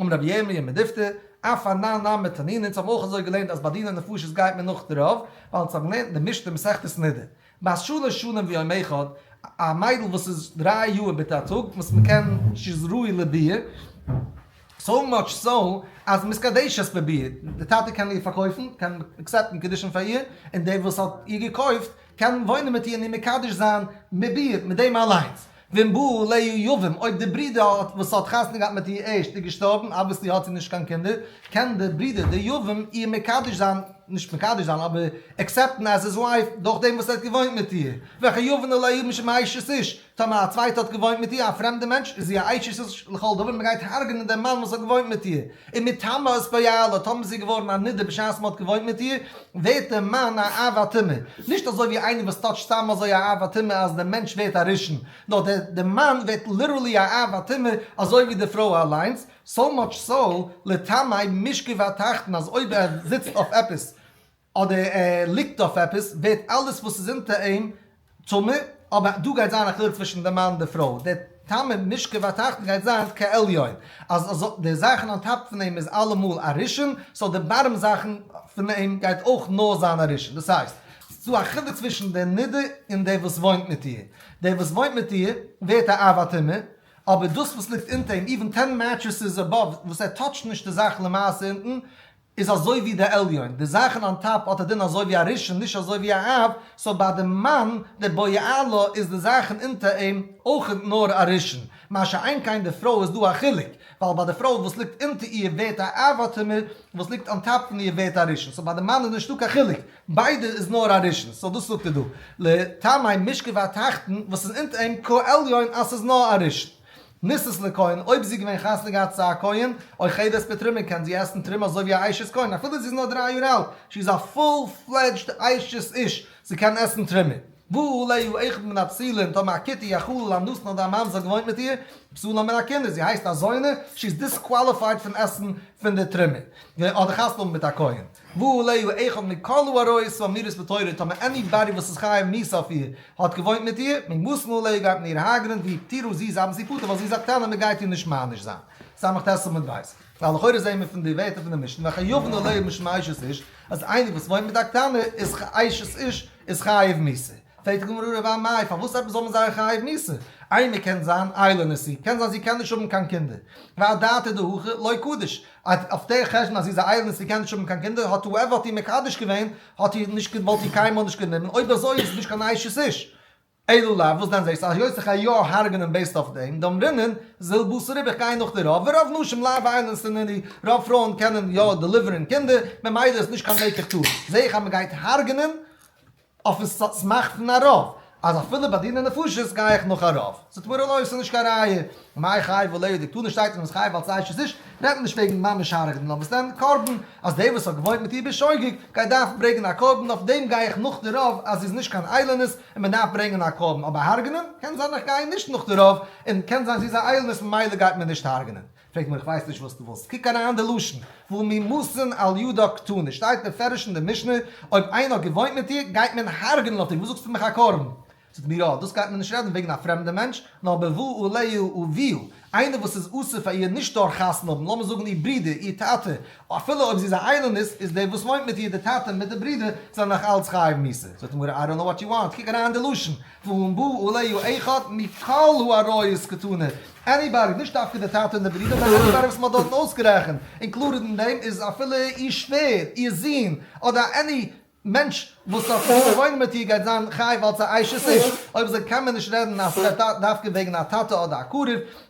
אמר רבי ירמיה מדיפתא, אף א נ נ מתנין, אונז האבן אויך אזוי געלערנט אז ביי דיני נפשות גייט מען נאך די רוב, ווייל אונז האבן געלערנט אין די משתה מסכת נדה, בת שלש שנים ויום אחד, א מיידל וואס איז דריי יאר ביטע א טאג וואס מען קען, שיז ראוי לביאה. סאו מאטש סאו אז מיס קאדעישאס פרובירט, די טאטע קען איר פארקויפן, קען עקסעפטן קידושין פאר איר, און דער וואס האט איר געקויפט קען וואוינען מיט איר און איר מקדש זיין מיט איר, מיט דעם אליינס. ואם באו ליה יבום, אויב די ברודער וואס האט חתונה געהאט מיט איר ערשט איז געשטארבן, אבוויעסלי האט זי נישט קיין קינדער, קען דער ברודער דער יבום איר מקדש זיין, נישט מקדש זיין אבער עקסעפטן עז היז ווייף דורך דעם וואס ער האט געוואוינט מיט איר, וכיוון אולי יבום שמאישת איש, טאמער א צווייטע האט געוואוינט מיט איר, א פרעמדע מענטש, איז זי א אשת איש לכל דבר, מען גייט הרג'נען דעם מאן וואס האט געוואוינט מיט איר, און מטעמו איז פועלת, טאמער איז זי געווארן א נדה בשעת מען האט געוואוינט מיט איר, ווערט דער מאן א עב הטומאה, נישט אזוי ווי איינער וואס טוט סתם אזוי א עב הטומאה אז דער מענטש ווערט א ראשון, נאר דער דער מאן ווערט ליטערלי א עב הטומאה אזוי ווי די פרוי אליינס, סאו מאטש סאו, לטעמי, משכב התחתון אז אויב ער זיצט אויף עפעס, אדער ער ליגט אויף עפעס ווערט אלעס וואס איז אונטער אים טמא, אבער דא גייט זיין א חילוק צווישן די מאן און די פרוי, די טעמי משכב התחתון גייט זיין כעליון, אז די זאכן אן טאפ פון אים איז אלעמאל א ראשון, סאו די בארם זאכן פון אים גייט אויך נאר זיין א ראשון, דאס הייסט ס'דא א חילוק צווישן די נדה און די וואס וואוינט מיט איר, די וואס וואוינט מיט איר ווערט א אב הטומאה, אבער דאס וואס ליגט אונטער אים, איווען טען מעטרעסעס אבאוו, וואס ער טאטשט נישט די זאך למעשה אונטן, איז אזוי ווי די עליון, די זאכן אן טאפ האט א דין אזוי ווי א ראשון נישט אזוי ווי א אב, סאו ביי די מן די בויאה לה איז די זאכן אונטער אים אויך נאר א ראשון, מה שאין כן די פרוי איז דא א חילוק, ווייל ביי די פרוי וואס ליגט אונטער איר ווערט א אב האט אים איר וואס ליגט אן טאפ פון איר ווערט א ראשון, סאו ביי די מן איז נישטא קיין חילוק, ביידע איז נאר א ראשון, סאו דאס זאגט ער דא, לטעמי משכב התחתון וואס איז אונטער אים כעליון אז ס'איז נאר א ראשון, ניסת לכהן, אויב זי איז געווען חתונה געהאט צו א כהן, אוי חדת פטרימין, קען זי עסן טרימ אזוי ווי א אשת כהן, אפילו זי איז נאר דריי יאר אלט, שי איז א פול פלעדזשד אשת איש, זי קען עסן טרימע. והוא ליה איכא מן הפסילה, און טאמער א כיתה יא כולל א נאסן אדער א ממזר געוואוינט מיט איר, פסולה מן הכינוס, זי הייסט א זונה, שי איז דיסקוואליפייד פון עסן פון די טרימע, אדער חתונה האבן מיט א כהן. והוא להו אחד מכלו הרואה סביבה מירס בתורה טאמער עני באדי וואס איז חיה מירס אויף איר האט געוואוינט מיט איר מי מוסמא ליה גייט מען איר האגערען ווי תראו זי איז אבן ספרתה ווייל זי איז א קטנה מען גייט איר נישט מעניש זיין סמך ת עמוד ב' ווייל לכאורה זעהן מיר פון די ווערטער פון די משנה וכן יבנו ליה משום אשת איש אז איינער וואס וואוינט מיט א קטנה איז אשת איש איז חייב מיתה פרעגט די גמרא רב א מאי פארוואס עפעס זאל מען זיין חייב מיתה איינער קען זיין איילון נשיא קען זיין זי קען נישט האבן קיין קינדער והדתה דהכא לוי קדיש אויב אויף דער חשבון אז זי איז א אייזל און ס'קען נישט האבן קיין קינדער, האט הועווער האט איר מקדש געווען, האט איר נישט געוואלט איר קיינמאל נישט גענומען, אויב אזוי איז עס נישט קיין אשת איש. אלא לאו, וואס דען זעסטו אז יוסף איך גיי יא הרג'נען בעיסד אויף דעם, דאן רינן זיל בשר ריב איך גיי נאך די רוב, ורוב נשים לא וויילן סנני, רוב פרויען קענען יא דעליווערן קינדער, ממילא איז נישט קיין מקח טעות, זעה איך אז מ'גייט הרג'נען, אויפן סאט'ס מאכט פון א רב, אז אפילו ביי דיני נפשות גיי איך נאך א רב. ס'טוט מיר אן אויס, ס'איז נישט קיין ראיה. מאי חי וליה די קטנה שטייט אז מ'איז חייב אלס אשת איש, רעדט מען נישט וועגן ממש הרג'נען נאר מ'איז נעמט קרבן, אז די וואס האט געוואוינט מיט איר בשוגג גייט דארפן ברענגען א קרבן, אויף דעם גיי איך נאך די רב אז זי איז נישט קיין איילענעס און מ'דארף ברענגען א קרבן, אבער הרג'נען? קען זיין איך גיי נישט נאך די רב, און קען זיין זי איז א איילענעס ממילא גייט מען נישט הרג'נען. פרעג מיר איך ווייס נישט וואס דו ווילסט, קוק אריין אין די לשון, וואו ממאסן על ידו קטנה שטייט מפורש אין די משנה, אויב איינער האט געוואוינט מיט איר גייט מען הרג'נען אויף איר, וואס זאגסטו מיך א קרבן? זאגט מיר אה, דאס גייט מען נישט רעדן וועגן א פרעמדע מענטש, נאר בבוא אליהו וביאו, איינער וואס איז אסור פאר איר נישט דורך חתונה האבן, לאמיר זאגן איר ברודער, איר טאטע, אפילו אויב זי איז א איילונית, איז דער וואס וואוינט מיט איר, די טאטע מיט די ברודער, זענען נאך אלץ חייב מיתה. זאגט די גמרא, איי דאנט נאו וואט יו וואנט, קוק אריין אין די לשון, ואם בא אליהו אחד מכל האריות קטנה, עניבאדי, נישט דווקא די טאטע און די ברידער, נאר עניבאדי וואס מען האט דארטן אויסגערעכנט, און קלארער אין דעם איז אפילו איר שווער, איר זון, אדער עני מענטש וואס האט געוואלט וואוינען מיט איר גייט זיין חייב אלס א אשת איש, אויב אזוי קען מען נישט רעדן אז ס'וועט דווקא וועגן א טאטע אדער א קרוב,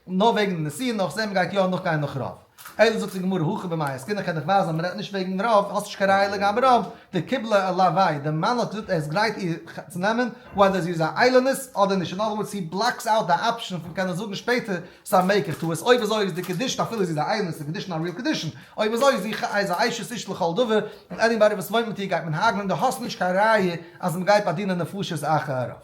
נאר וועגן נסיון, נאכזען מען גייט יא נאכגיין נאך רוב. אויב דו זאגסט די גמרא הכי במאי עסקינן קען איך ווייזן אז מ'רעדט נישט וועגן רב, האסט נישט קיין ראיה לגבי רב, די קיבלה ע ל וויי די מאן האט געזאגט ער איז גרייט איר צו נעמען וועדער זי איז א איילענעס אדער נישט, אין אדער ווארדס הי בלאקס אוט די אפשען פון קענען זאגן שפעטער ס'איז א מעקער טעות, אויב אזוי איז די קעדישן אפילו זי איז א איילענעס איז די קעדישן א ריעל קעדישן, אויב אזוי איז זי ח איז א אשת איש לכל דבר און עניבאדי וואס וואוינט מיט איר גייט מען הרג'נען, דו האסט נישט קיין ראיה אז מ'גייט באדינען נפשות אחר הרב.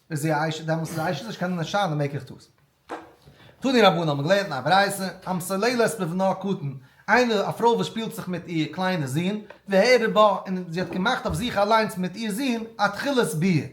איז זי א אשה? דעמאלטס איז א אשה נישט קיין נשא די מעקער טוס. תני רבנן האט מען געלערנט אין א ברייתא, המסללת בבנה הקטן, איינער א פרוי וואס שפילט זיך מיט איר קליינע זון, והעירה בה, און זי האט געמאכט אויף זיך אליינס מיט איר זון אתחלת ביה.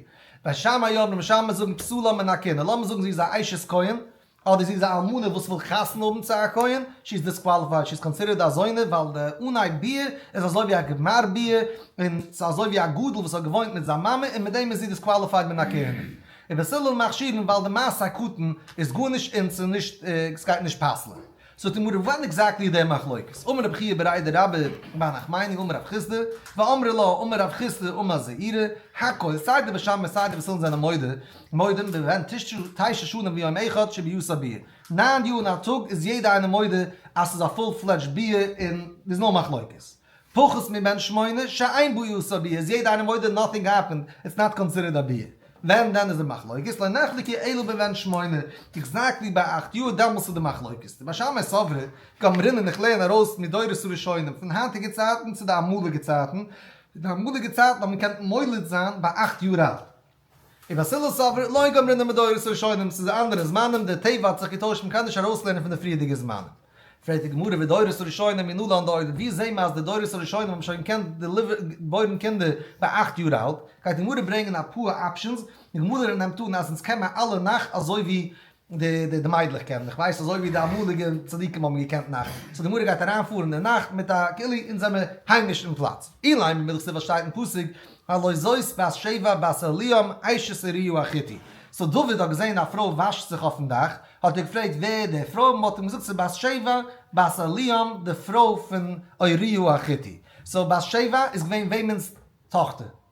בית שמאי אומרים, בית שמאי זאגן פסולה מן הקנאה, לאמיר זאגן זי איז א אשת כהן, אדער זי איז א אלמנה וואס וויל חתונה האבן צו א כהן, שי איז דיסקוואליפייד, שי איז קאנסידערט א זונה ווייל די אנהייב ביעור איז אזוי ווי א גמר ביעור, און ס'איז אזוי ווי א גדול וואס האט געוואוינט מיט זיין מאמע און מיט דעם איז זי דיסקוואליפייד מן הכהונה. ובסלול מכשירין ווייל די מעשה הקטן איז גארנישט און ס'איז נישט ס'גייט נישט פסל'ען זאגט אים הרב וואנעט עקזעקטלי איז די מחלוקת? אמר רבי חייא ברעי די רב איז ביי נחמני אמר רב חיסדא ואמרי לה אמר רב חיסדא אמר זעירא הק' סיי די בשמים און סיי די וסילן זענען מודה מודים בבהן תשע שנים ויום אחד שביעושה ביאה, נײַן יאר און א טאג איז יעדע איינער מודה אז ס'איז א פול פלעדזשד ביאה און דאס איז נאר מחלוקת. פחות מבן שמונה שאין בו יסוד ביאה איז יעדע איינער מודה נאטינג העפענד איטס נאט קאנסידערד א ביאה ווען דען איז די מחלוקת לא נחלקי אלא בבן שמונה עקזעקטלי ביי אכט יאר דעמאלס איז די מחלוקת די משמעי סברא גמרין און איך לערן ארויס מדורות הראשונים פון היינטיגע צייטן צו די אמאליגע צייטן די אמאליגע צייטן האט מען געקענט מוליד זיין ביי אכט יאר אלט און א סילוס סברא, לא גמרין די מדורות הראשונים, ס'איז א אנדערע זמנים, די טבע האט זיך געטוישט, מ'קען נישט ארויסלערנען פון די פריערדיגע זמנים. פרעגט די גמרא ודורות הראשונים ינולו אן די אויבן, וואו זעהן מיר אז די דורות הראשונים האבן שוין געקענט געבוירן קינדער ביי אכט יאר אלט? גייט די גמרא ברענגען אפאר אפשענס, די גמרא נעמט אן אז אונז קען מען אלע נאך אזוי ווי די די מיידלעך קענען, איך ווייס אזוי ווי די אמאליגע צדיקים האבן געקענט נאכט, סאו די גמרא גייט אריין פארן אין נאכט מיט א כלי אונז זעמער היימיש אין פלאץ, אילאי ממידך ס'וואס שטייט אין פסוק הלא זאת בת שבע בת אליאם אשת אוריה החיתי, סאו דוד האט געזען א פרוי וואשט זיך אויפן דאך, האט ער געפרעגט ווער די פרוי, מ'האט אים געזאגט ס'איז בת שבע בת אליאם די פרוי פון אוריה החיתי, סאו בת שבע איז געווען וועמענס טאכטער?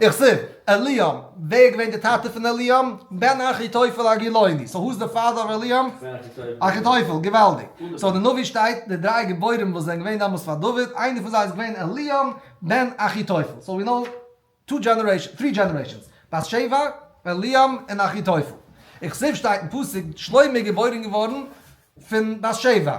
איך זיך, אליאם, ווער איז געווען די טאטע פון אליאם? בן אחיתופל הגילוני, סאו הו איז די פאדער אוו אליאם? אחיתופל, געוואלדיג, סאו די נביא שטייט די דריי גיבורים וואס זענען געווען דאמאלס פאר דוד, איינער פון זיי איז געווען אליאם בן אחיתופל, סאו ווי נאו טו דזשענערעישאנס, טרי דזשענערעישאנס, בת שבע, אליאם, און אחיתופל. איך זיך שטייט אין פסוק, שלמה איז געבוירן געווארן פון בת שבע,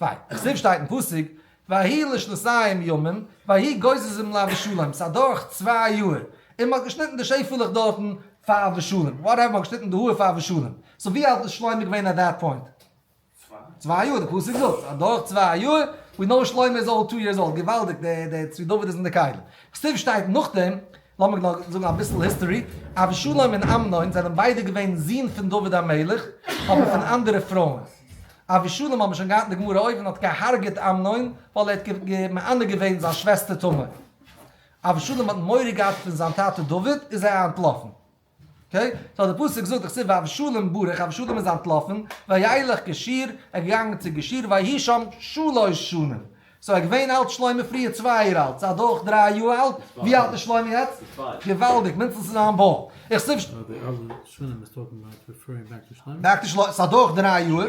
וויי, כסוף שטייט אין פסוק, ויהי לשלסיים ימים, ויהי גוזזים לאבישלום, ס'איז אדורך צוויי יאהר, און מ'האט געשניטן די שעפעלעך דארטן פאר אבישלום, וואטעווער, מ'האט געשניטן די האר פאר אבישלום, סאו ווי אלט איז שלמה געווען עט דעט פוינט? צוויי יאהר, די פסוק זאגט, ס'איז אדורך צוויי יאהר, ווי נאו שלמה איז אולי טו יערס אולד, געוואלדיג, דער צבי דוד איז אין די כלים. כסוף שטייט נאכדעם, לאמיר נאר זאגן אביסל היסטארי, אבשלום און אמנון זענען ביידע געווען זון פון דוד המלך, אבער פון אנדערע פרויען. אבשלום האט מען שוין געהאט אין די גמרא אויבן האט געהארגעט אמנון ווייל ער האט מענה געווען זיין שוועסטער תמר. אבשלום האט מורא געהאט פון זיין טאטע דוד איז ער אנטלאפן. אקעי, סאו די פסוק זאגט דאך ס'איז ואבשלום ברח, אבשלום איז אנטלאפן, וילך געשיר, ער איז געגאנגען צו געשיר, ויהי שם שלש שנים, סאו ער איז געווען אלט שלמה פריער צוויי יאר אלט, סאו אדורך דריי יאר אלט, ווי אלט איז שלמה יעצט? געוואלדיג, מינדסטנס צו זיין בויך, איך סיפשט. באק טו שלמה, סאו אדורך דריי יאר.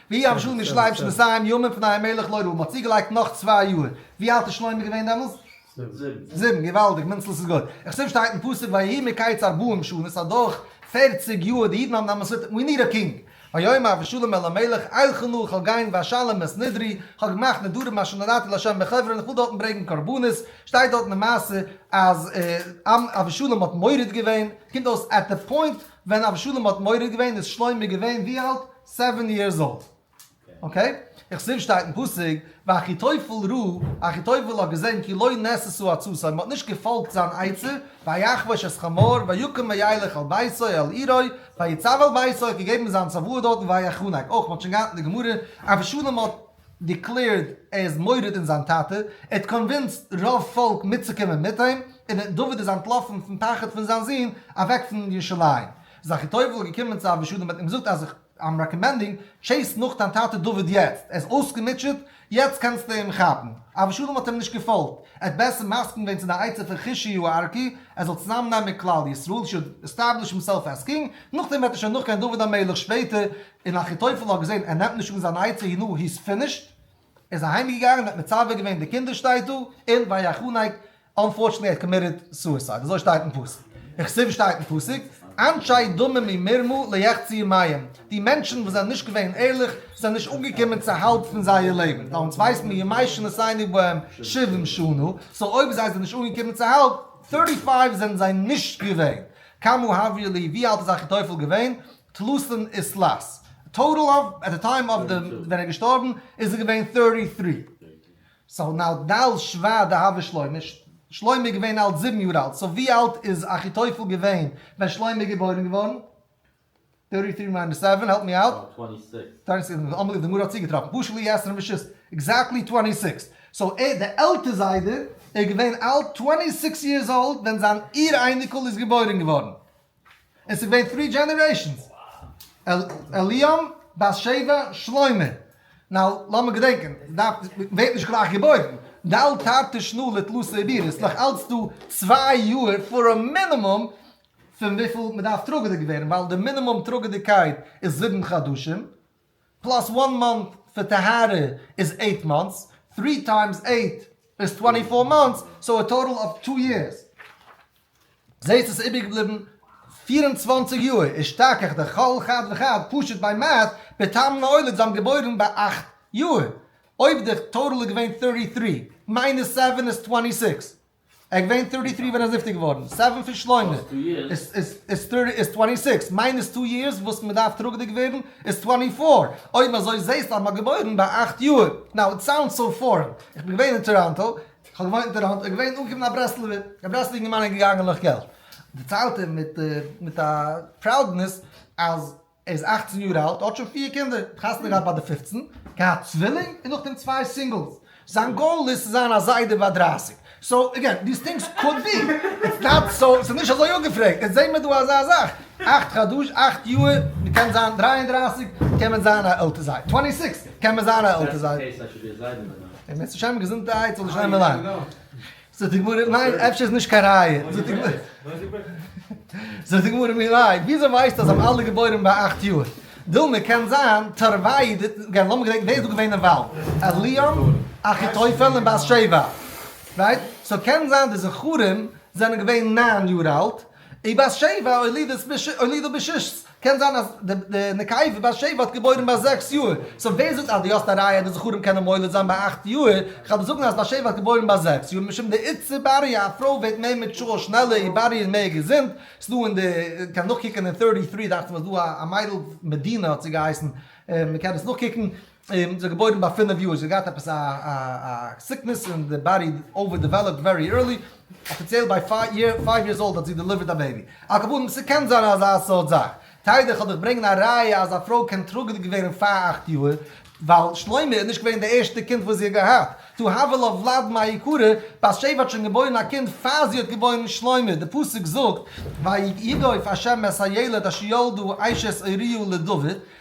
ווי אמשל מיר שרייבן שוין דאס אריין ימים פון אהימעלך לוי, מ'האט צוגעלייגט נאך צוויי יאהר, ווי אלט איז שלמה געווען דעמאלס? זיבן, געוואלדיג, מנצל עס איז גוט. איך שוין שטייט אין פסוק ויהי מקץ ארבעים שנה, סא דורך פערציג יאהר, די אידן האבן דעמאלס מיט מי ניד א קינג, ויאמר אבשלום אל המלך אילכה נא איך וועל גיין ואשלם את נדרי, איך האב געמאכט נדרים אשר נדרתי לה' בחברון, איך וויל דארטן ברענגן קרבנות, שטייט דארטן די מעשה אז אבשלום האט מורד געווען, קומט אויס עט די פוינט ווען אבשלום האט מורד געווען איז שלמה געווען ווי אלט? סעווען יערס אולד. אקעי. איך זיף שטייט אין פסוק ואחיתופל ראה, אחיתופל האט געזען כי לא נעששו עצותיו, מ'האט נישט געפאלגט זיין עצה, ויחבוש את חמור ויקום וילך אל ביתו אל עירו ויצב אל ביתו, ער האט געגעבן זיין צוואה דארטן ויחנק, אויך מ'האט שוין געהאט אין די גמרא, אבשלום האט דיקלעירד ער איז מורד אין זיין טאטע, ער האט קאנווינסט רוב פאלק מיטצוקומען מיט אים, און דוד איז אנטלאפן פון פחד פון זיין זון אוועק פון ירושלים. זכר טוב איז געקומען צו אבישי דעם בעט און געזאגט אז איך איים רעקאמענדינג טשעיס נאך דיין טאטע דוד יעצט, ער איז אויסגעמוטשעט, יעצט קענסטו אים כאפן. אבישי דעם האט אים נישט געפאלגט, ער האט בעסער מסכים געווען צו דיין עצה פון חישי הוא ארקי, ער זאל צוזאם נעמען מיט כלל ישראל, שוט עסטעבליש הימסעלף עז קינג, נאכדעם וועט ער שוין נאכגיין דוד המלך שפעטער, און אחיתופל האט געזען ער נעמט נישט אן זיין עצה הנה היז פינישט, ער איז אהיים געגאנגען און האט מצווה געווען די קינדער שטייט דא און ויחנק, אנפארטשענעטלי ער האט קאמיטעד סועסייד אזוי שטייט אין פסוק, וכסוף שטייט אין פסוק, אנשי דוממי מרמו ליחצי מים, די מענטשן וואס זענען נישט געווען ערליך זענען נישט אנגעקומען צו האלב פון זייער לעבן, ווייל אונז ווייסן מיר ימי שנותינו בהם שבעים שנה, סאו אויב זיי זענען נישט אנגעקומען צו האלב, thirty five זענען זיי נישט געווען, כמה העביר לי ווי אלט איז אחיתופל געווען? טלוסים איז טלאס. טאטעל אויף עט די טיים אויף די ווען ער איז געשטארבן איז ער געווען טערטי טרי. סאו נאו דאו שווא דהוה שלמה. שלמה איז געווען אלט זיבן יאר אלט. סאו ווי אלט איז אחיתופל געווען ווען שלמה איז געבוירן געווארן? טערטי טרי מיינוס סעווען העלפ מי אוט. טווענטי סיקס. טווענטי סיקס איז אמאל די גמרא האט צוגעטראפן פשט לי עשרים ושש עקזעקטלי טווענטי סיקס. סאו ער די עלטע זיידע איז געווען אלט טווענטי סיקס יערס אולד ווען זיין איר אייניקל איז געבוירן געווארן. עס איז געווען טרי דזשענערעישאנס, עליאם, בת שבע, שלמה. נאו, לאמיר געדענקען, דארף, ווערט נישט גלייך געבוירן. דל תרתי שנא לטלו סעבירא, ס'איז נאך אלץ דא צוויי יאר פאר א מינימום פון וויפיל מ'דארף טראגעדיג ווערן, ווייל די מינימום טראגעדיגקייט איז זיבן חדשים. פלאס וואן מאנט פאר טהרה איז עיט מאנטס, טרי טיימס עיט איז טווענטי פאר מאנטס, סאו א טאטעל אוו טו יערס. זעהסט עס איז איבערגעבליבן פֿיר און צוואַנציק יאר, איז שתכח די כל חד וחד פשוט ביי מעט בתם נולד, זיי האבן געבוירן ביי אַכט יאר, אויב די טאטעל איז געווען טערטי טרי מיינוס סעווען איז טווענטי סיקס, ער איז געווען טערטי טרי ווען ער איז נפטר געווארן, סעווען פון שלומי איז טווענטי סיקס, מיינוס טו יערס וואס מען דארף טראגעדיג ווערן איז טווענטי פאר, אויב אזוי זעהסטו אז מען האט געבוירן ביי אכט יאר, נאו איט סאונדס סאו פארען, איך בין געווען אין טאראנטא, איך האב געוואוינט אין טאראנטא, איז געווען אנגעקומען א ברסלב'ער, א ברסלב'ער אינגערמאן איז געגאנגען נאך געלט, דערציילט ער מיט א פראודנעס אז. ער איז אַכצן יאר אלט, האט שוין פיר קינדער, האט חתונה געהאט ביי די פופצן, געהאט צווילינג און נאכדעם צוויי סינגלס. זיין גאול איז צו זיין א זיידע ביי דרײַסיק. סאו אגעין, דיס טינגס קאוד בי, איטס נאט סאו, ס'איז נישט אזוי אפגעפרעגט. איצט זעהן מיר דא אזא זאך, אַכט חדש, אַכט יאהר, מ'קען זיין דרײַ און דרײַסיק, קען מען זיין א עלטער זיידע, טווענטי סיקס, קען מען זיין א עלטער זיידע. און בעזהשם געזונטהייט זאל די שומר ליין. זאגט די גמרא, ניין, אפשר איז נישט קיין ראיה. זאגט די גמרא, מילא, וויאזוי ווייסטו אז זיי האבן אלע געבוירן ביי אכט יאר? דילמא, קען זיין, תרוויי, לאמיר געדענקען, ווער איז דא געווען אין וואלד? אליהו, אחיתופל און בת שבע, רייט? סאו קען זיין די זכרים זענען געווען נײַן יאר אלט, און בת שבע הולידה בששת, קען זיין אז די נקבה בת שבע האט געבוירן ביי זעקס יאר, סאו ווער זאגט אז דו האסט א ראיה אז די זכרים קענען מוליד זיין ביי אכט יאר, כ'על דיר זאגן אז בת שבע האט געבוירן ביי זעקס יאר, משום די עצה בריה א פרוי ווערט מער מעטשור שנעלער, איר באדי איז מער געזונט, ס'איז דא אין די, קען נאכקוקען אין טערטי טרי דאכט זיך מיר איז דא א מיידל מדינה האט זי געהייסן, מ'קען עס נאכקוקן. און זיך געבוירן ביי פינף יאר, זי האט געהאט עפעס א סיקנעס און די באדי אווער דעוועלאפד ווערי ערלי, אפיציעל ביי פייוו יערס אולד האט זי דעליווערט א בעיבי, על כל פנים ס'קען זיין אזא סארט זאך, טייערער כ'וועל דיך ברענגען א ראיה אז א פרוי קען טראגעדיג ווערן אין פאר אכט יאר, ווייל שלמה איז נישט געווען די ערשטע קינד וואס זי האט געהאט, טו הבל אויף וולאדמא היקרה, בת שבע האט שוין געבוירן א קינד פאר זי האט געבוירן שלמה, די פסוק זאגט ויגוף השם את הילד אשר ילדה אשת אוריה לדוד,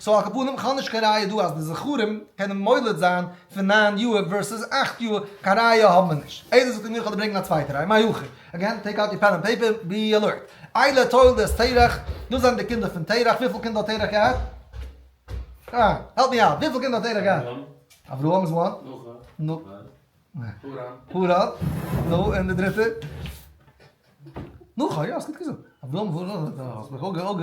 סאו על כל פנים כ'האב נישט קיין ראיה דא אז די זכרים קענען מולד זיין פון ניין יאר ווערסעס אכט יאר, קיין ראיה האבן מיר נישט. איזה זכרים איך זאל דיר ברענגן א צווייטע ראיה, מהיכי? אגעין טעיק אוט יור פען ענד פעיפער, בי אלערט. איילה תולדות תרח, דאס זענען די קינדער פון תרח, וויפיל קינדער האט תרח געהאט? אה, העלפ מי אוט, וויפיל קינדער האט תרח געהאט? אברהם איז וואן. פאר אפ, נו און די דריטע? נו כ'האב יא ס'גוט געזאגט. אברהם וואו נאך זאגט ער נאך? האסט מיך אויך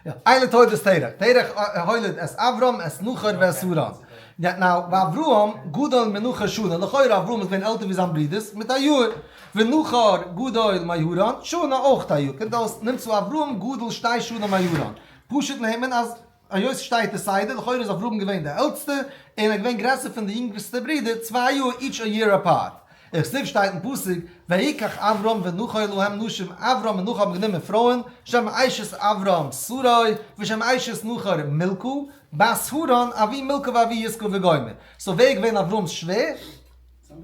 גע. איינע תולדות תרח, תרח הוליד את אברהם את נחור ואת הרן. נאו ואברהם גדול מנחור שנה, לכאורה אברהם איז געווען עלטער ווי זיין ברודערס מיט א יאר. ונחור גדול מהרן שנה אויך א יאר. קומט אויס נמצא אברהם גדול שתי שנה מהרן. פשוט נעמען אז. היות שטייט די סדר, לכאורה איז אברהם געווען די עלטסטע, און ער איז געווען גרעסער פון די יונגסטע ברודער צוויי יאר, איטש א יער אפארט. איך זיך שטייט אין פסוק, ויקח אברהם ונכה להם נשים, אברהם און נכה האבן גענומען פרויען, שם אשת אברהם שרי, ושם אשת נחור מילכה, בת הרן, אבי מילכה ואבי יסכה וגומר. סאו ווער איז געווען אברהם'ס שווער?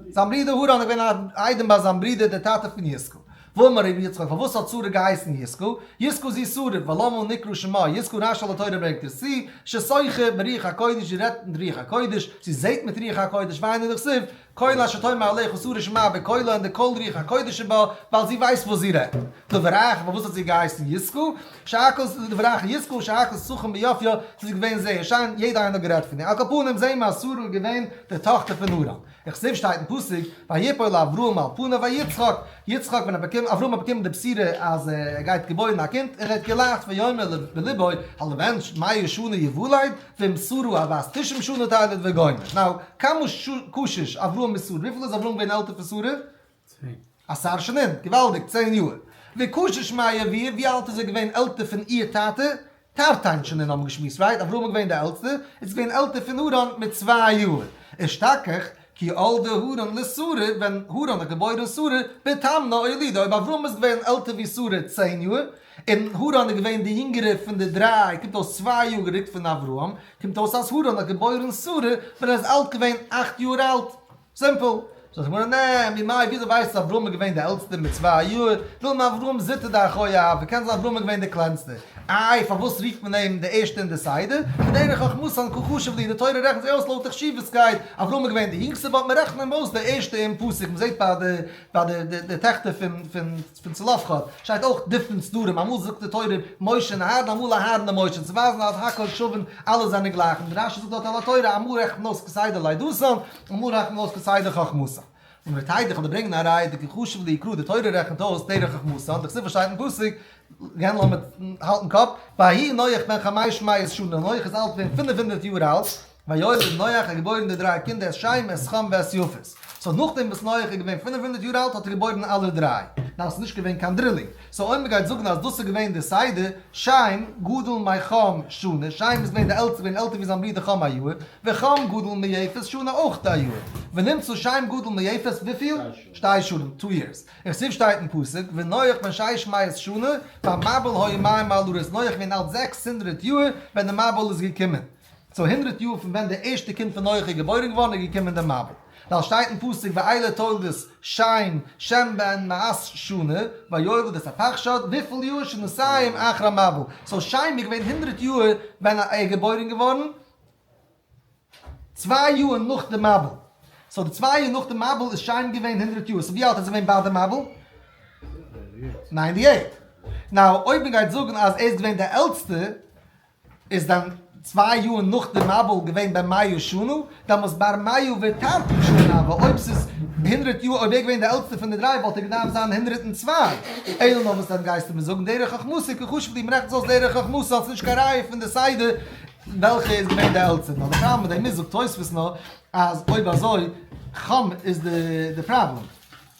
זיין ברודער הרן איז געווען א איידעם ביי זיין ברודער דער טאטע פון יזכו. ואמר ר' יצחק, פארוואס האט שרה געהייסן יזכו? יזכו זי שרה, ולמה נקרא שמה יזכו רשל די תורה ברענגט עס צו, ששחה ברוח הקודש זי רעדט מיט רוח הקודש, זי זעהט מיט רוח הקודש, והיינו דכסיב, קול אשר תאמר אליך ושרה שמעה בקולה און די קול רוח הקודש שבא, ווייל זי ווייסט וואס זי רעדט. דבריך, פארוואס האט זי געהייסן יזכו? שייכות לדבריך יזכור שייכות סכום ביופיו ס'איז געווען זייער שיין יעדער איינער האט גערעדט פון איר על כל פנים זעהן מיר אז שרה איז געווען די טאכטער פון נארא וכסוף שטייט אין פסוק ויפול לאברהם על פניו ויהי יצחק יצחק ווען ער באקומט אברהם האט באקומען די בשורה אז ער גייט געבוירן א קינד און ער האט געלאכט ויאמר בליבו הלבן מאיר שנה יוולד ואם שרה הבת תשעים שנה תלד וגומר נאו קאמאו קושש אברהם מיט שרה וויפיל איז אברהם געווען עלטער פון שרה? צוויי. א שר שנים, געוואלדיג, צען יאר. ווי קושיא שמעיה ווי ווי אלט איז ער געווען עלטער פון איהר טאטע? טארטיין שנים האבן געשמועסט רייט, אברהם איז געווען די עלטסטע, איז געווען עלטער פון הרן מיט צוויי יאר. אשתקח, כי הולדה הרן לשרה, ווען הרן האט געבוירן שרה, בתמנא הולידה, אויב אברהם איז געווען עלטער ווי שרה צען יאר, און הרן איז געווען די יונגערע פון די דריי, קומט אויס צוויי יאר גערוקט פון אברהם, קומט אויס אז הרן האט געבוירן שרה ווען ער איז אלט געווען אכט יאר אלט. סימפל. זאגט די גמרא, נעעע, ממאי, וויאזוי ווייסטו אז אברהם איז געווען די עלטסטער מיט צוויי יאר? ווילן אברהם זוטא דאחוי אהב, ווי קען זיין אז אברהם איז געווען די קלענסטער? איי, פארוואס רופט מען אים די ערשטע אין די סדר? בדרך חכמתא און כה חשוב לי, די תורה רעכנט זיי אויס לויט די חשיבות'קייט, אברהם איז געווען די יונגסטער, וואלט מען רעכן אים אויס די ערשטע אין פסוק, מ'זעט ביי די ביי די די טעכטער פון פון. פון צלפחד שטייט אויך דיפרענט סדרים אמאל זאגט די תורה משה נהד אמאל אהרן און משה צו ווייזן אז הכל שווין אלע זענען גלייך און רשי זאגט דארט על התורה אמאל רעכנט מען אויס כסדר לידתן אמאל רעכנט מען אויס כסדר חכמתן און ר' טיידער כדי ברענגען א ראיה די כחשוב ליקרא די תורה רעכנט אויס דרך חכמתן די כסדר שטייט אין פסוק גענ ל מיט האלטן קאפ ויהי נח בן חמש מאות שנה נח איז אלט געווען פֿינף הונדערט יאר אלט. ויולד נח איז געבוירן די דריי קינדער את שם את חם ואת יפת. סאו נאכדעם וואס נח איז געווען פֿינף הונדערט יאר אלט האט ער געבוירן אלע דריי. ניין ס'איז נישט געווען קיין דרילינג. סאו אויב מ'גייט זאגן אז דאס איז געווען די סדר, שם גדול מחם שנה, שם איז געווען די עלטסטער געווען עלטער ווי זיין ברודער חם א יאר, וחם גדול מיפת שנה אויך א יאר. ונמצא שם גדול מיפת וויפיל? שתי שנים, טו יערס. איך זיף שטייט אין פסוק, ונח בן שש מאות שנה, והמבול היה מים מעל הארץ נח איז געווען אלט זעקס הונדרעט יאר ווען די מבול איז געקומען. צו הונדרעט יאר פון ווען דער ערשטער קינד פון נח איז געבוירן געווארן איז געקומען דער מבול, ווייל עס שטייט אין פסוק ואלה תולדות שם, שם בן מאת שנה, ויאבד את הפחשת, וויפיל יאר שנתיים אחר המבול, סאו שם איז געווען הונדרעט יאר ווען ער איז געבוירן געווארן, צוויי יאר נאך די מבול, סאו די צוויי יאר נאך די מבול איז שם געווען הונדרעט יאר, סאו ווי אלט איז ער געווען ביי די מבול? ניינטי עיט. נאו אויב מען גייט זאגן אז ער איז געווען דער עלטסטער. איז דען צוויי יאר נאך די מבול געווען בן מאה שנה? דאמאלס בר מאה ותרתי שנה, ווייל אויב ס'איז הונדרעט יאר, אויב ער איז געווען די עלטסטער פון די דריי וואלט ער געדארפט זיין הונדרעט און צוויי. אלא נאר וואס דען גייסטו מיר זאגן? דרך חכמתו כחשב די מ'רעכנט עס אויס דרך חכמתו האט עס נישט קיין ראיה פון די סדר וועלכע איז געווען די עלטסטער נאר די פראבלעם מיט דעם איז זאגט תוספות נאר אז אויב אזוי חמ איז די פראבלעם.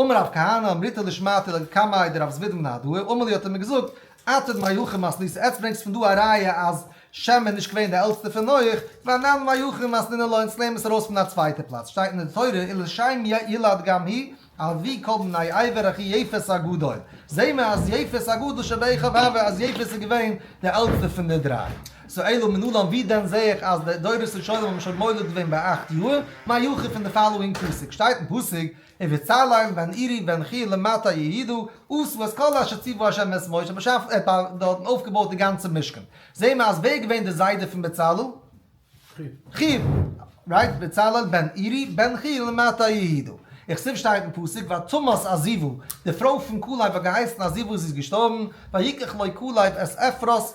אמר רב כהנא אמריתא דשמעתא לג קמאי דרב זביד בן אדוה אמר לי האט ער מיר געזאגט אתד מאי הכי מסניתא עטס ברענגסט פון דא א ראיה אז שם איז נישט געווען די עלטסטע פון נח ואנן מאי הכי מסנינא לוי אונז לערנען עס ארויס פון א צווייטע פלאץ שטייט אין די תורה אילו שם ילד גם היא אבי כל בני עבר הכי יפת הגדול זעהן מיר אז יפת הגדול שבעי חוה אז יפת איז געווען די עלטסטע פון די דריי. שאלו מנלן ווי דען זעה איך אז די דורות ראשונים האבן שוין מולד געווען ביי אכט יאהר, מה יוכיף אין די פאלאואינג פסוק, שטייט אין פסוק, ובצלאל בן אירי בן חי' למטה יהידו, עשו את כל אשר ציוו ה' מאת משה, משה האט אויפגעבויעט די גאנצע משכן, זעה מיר אז ווער איז געווען די זיידע פון בצלאל? חי', רייט, ובצלאל בן אירי בן חי' למטה יהידו, איך סוף שטייט אין פסוק, ותמות עזיבו, די פרוי פון כלב האט געהייסן עזיבו זי איז געשטארבן, ויקח לו כלב את עפרות,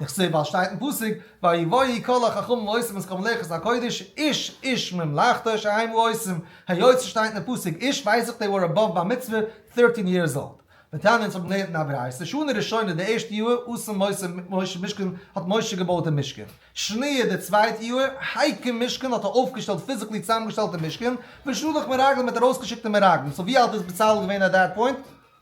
איך זעה ווייל שטייט אין פסוק ויבואו כל החכמים ועושים את כל מלאכת הקודש איש איש ממלאכתו שהיימו עושים, היות ס'שטייט אין פסוק איש ווייס איך דעי ווער עבאוו בר מצוה thirteen years old. מיר טענה'ן אונז האבן געלערנט אין א ברייתא שנה ראשונה די ערשטע יאהר עשה משה משה משכן האט משה געבויט די משכן, שניה די צווייטע יאהר הקים משכן האט ער אויפגעשטעלט פיזיקלי צוזאמגעשטעלט די משכן, ושלח מרגלים האט ארויסגעשיקט די מרגלים, סאו ווי אלט איז בצלאל געווען עט דעט פוינט?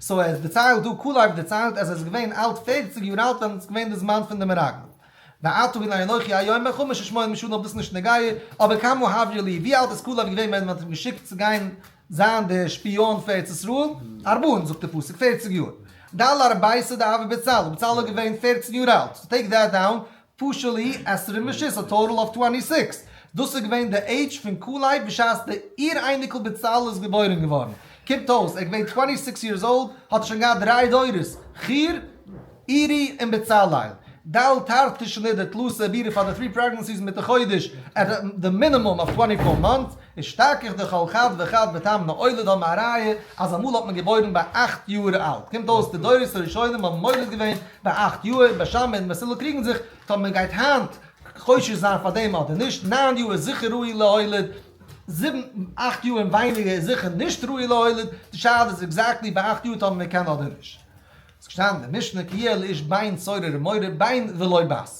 סאו ער דערציילט דא, קאלאוו דערציילט אז ער איז געווען אלט פערציג יאר אלט ווען עס איז געווען די זמן פון די מרגלים. ואתו הנה אנכי היום מען חמשה שמונים משנה אבער דאס איז נישט נוגעי, אבער כמה העביר לי ווי אלט איז קאלאוו געווען ווען מען האט אים געשיקט צו גיין זיין די שפיאן פאר ארץ ישראל? ארבעין זאגט די פסוק פערציג יאר. דל ארבעי סדא אבי בצלאל בצלאל איז געווען פערצן יאר אלט, סאו טעיק דעט דאון. פשלי, עשרה משיס, א טאטעל אוו טווענטי סיקס. דאס איז געווען די עידזש פון קאלייב בשעת די איר אייניקל בצלאל איז געבוירן געווארן. קומט אויס ער איז געווען טווענטי סיקס יערס אולד, האט שוין געהאט דריי דורות, חיר, אירי און בצלאל. ד ה תרט ט שנית די תלוש עבירה פאר די פרי פרעגנענסיס מיט די חודש עט די מינימום אוו טווענטי פאר מאנטס. איז שטארק איך די כל חד וחד בטעם נולד האבן א ראיה אז אמאל האט מען געבוירן ביי אכט יאהר אלט קומט אויס די דורות הראשונים האבן מולד געווען ביי אכט יאהר ביי שמעון און מסילא קריגן זיך טא מען גייט היינט חושש זיין פאר דעם אדער נישט נײַן יאהר איז זיכער ראוי להולד זיבן אכט יאהר און ווייניגער איז זיכער נישט ראוי להולד די שאלה איז עקזעקטלי ביי אכט יאהר טא מען קען אדער נישט ס'געשטאנען אין די משנה כי יהיה לאיש בן צעיר ר' מורי בן ולא בת.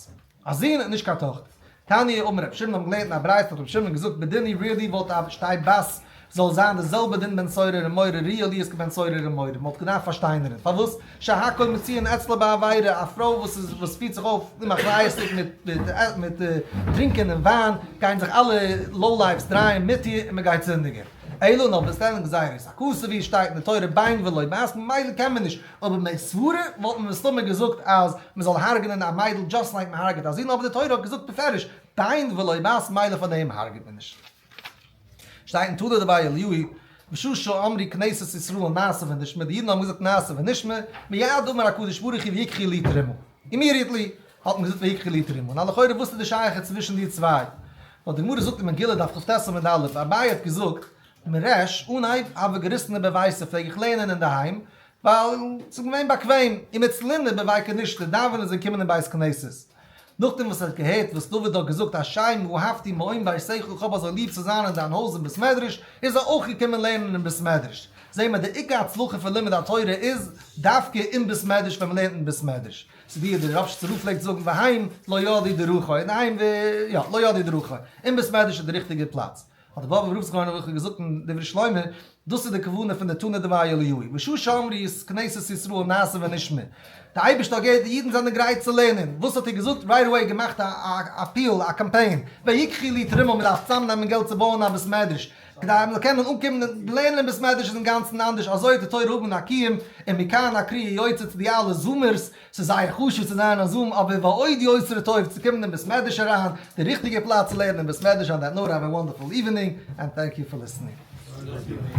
א זון און נישט קיין טאכטער. תניא אמר רבי שמעון האט מען געלערנט אין א ברייתא האט רבי שמעון געזאגט בדיני רי אלי' וואלט א שטיי בת זאל זיין די זעלבע דין בן סורר און מורר רי אלי' איז כבן סורר און מורר מען וואלט געדארפט פארשטיינערען פארוואס שהכל מציון אצלו בעבירה א פרוי וואס איז וואס פירט זיך אויף אומאחריות'דיג מיט מיט טרינקען און וויין גייען זיך אלע לאו לייפס דרייען מיט איר און מען גייט זינדיגען. אלא נאר ווען עס וועלען גזירות א כסא ווי עס שטייט אין די תורה ביין ולא בעת ממילא קען מען נישט. אבער מיין סברה וואלט מען מסתמא געזאגט אז מען זאל הרג'נען א מיידל דזשאסט לייק מען הרג'עט א זון אבער די תורה האט געזאגט בפירוש דיין ולא בת מילא פאר דעם הרג'עט מען נישט. שטייט אין תולדות רבי אליהוי וששו אמרי כנסת ישראל נעשה ונשמע די אידן האבן געזאגט נעשה ונשמע מיד אמר הקדוש ברוך הוא ויקחי לי תרומה אימידיעטלי האט מען געזאגט ויקחי לי תרומה נא לכאורה וואס איז די שייכות צווישן די צוויי ווייל די גמרא זאגט אין מגילה דף כט סימן ד אביי האט געזאגט מרעש אנהייב האב איך געריסן איבער ווייסע פלעג איך לערנען אינדערהיים ווייל ס'איז געווען באקוועם און מיט סלינע איבער וויי קנישטער דאווענען איז געקומען אין בית כנסת נאכדעם וואס ער האט געהערט וואס דוד האט געזאגט השם אהבתי מעון ביתך איך האב אזוי ליב צו זיין אין דיין הויז און בית מדרש איז ער אויך געקומען לערנען אין בית מדרש זעהן מיר די עיקר הצלחה פון לימוד התורה איז דווקא אין בית מדרש ווען מ'לערנט אין בית מדרש ס'איז ווי דער רב שצ ר פלעגט זאגן והיים לא ידי דרכו און היים יא לא ידי דרכו אין בית מדרש איז די ריכטיגע פלאץ. האט דער באבוב רב זיך געוואנדן וועלכע האט געזאגט אין דברי שלמה, דאס איז די כוונה פון די תנא דבי אליהו, בשעה שאמרי איז כנסת ישראל נעשה ונשמע, די אייבערשטער האט געהערט די אידן זענען גרייט צו לערנען, וואס האט ער געזאגט? רייט עוועי געמאכט א אפיעל, א קאמפיין, ויקחי לי תרומה, מען דארף צוזאם נעמען געלט צו בויען א בית מדרש, כדי אז מען זאל קענען אנקומען און לערנען אין בית מדרש איז אינגאנצן אנדערש, אזוי האט די תורה האבן אן א קיום, און מכאן הקריאה יוצאת צו די אלע זומערס, ס'איז זייער חשוב צו זיין א זאאם אבער ועוד יוס ר טוב צו קומען אין בית מדרש אריין, די ריכטיגע פלאץ צו לערנען אין בית מדרש אן דעט נאר האוו א וואנדערפול איווענינג ענד טענק יו פאר ליסענינג.